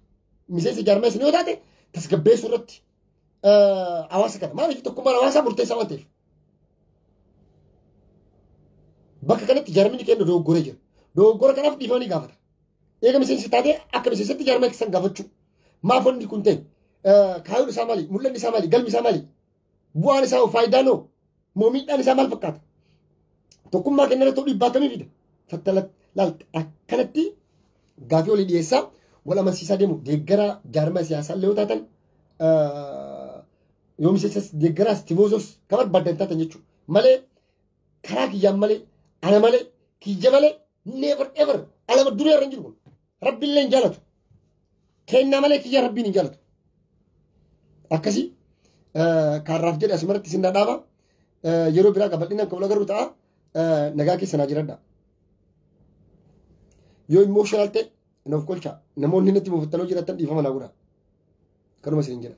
Miseensa jarama isanii yoo taate tasgabbeessuu irratti hawaasa kana maaliif tokkummaan hawaasaa murteessaa waan ta'eef. Bakka kanatti jaramni keenya dogoggora jira. Dogoggora kanaaf dhiifama ni gaafata. Eega miseensa taatee akka miseensitti jaarmaa keessan gaafachuu. Maaf wanni kun ta'e? Kaayyoon isaa maali? Mul'anni isaa maali? Galmi isaa maali? Bu'aan isaa faayidaan hoo? Moo miidhaan isaa maal fakkaata? Tokkummaa keenya irratti dhiibbaa akkamii fida? Fattala laal akkanatti gaafii olii dhiyeessaa wal amansiisaa deemu deeggaraa jaarmaa siyaasaa illee yoo taatan yoo miseensa deeggaraas tifoozos kan barbaadan taatan jechuudha. Malee karaa kiyyaan malee ana malee kiyya malee never ever alama duree irra hin jiru kun rabbi illee hin jaalatu kennaa malee kiyya rabbiin hin jaalatu akkasii kaarraaf jedhe asumarratti isin dhadhaaba yeroo biraa qabadhinaan kan wal agarru ta'a nagaa keessa naa jiradha yoo immooshinal ta'e nuuf qolcha namoonni natti buufattanoo jiratan dhiifama naa godha kanuma isin jedha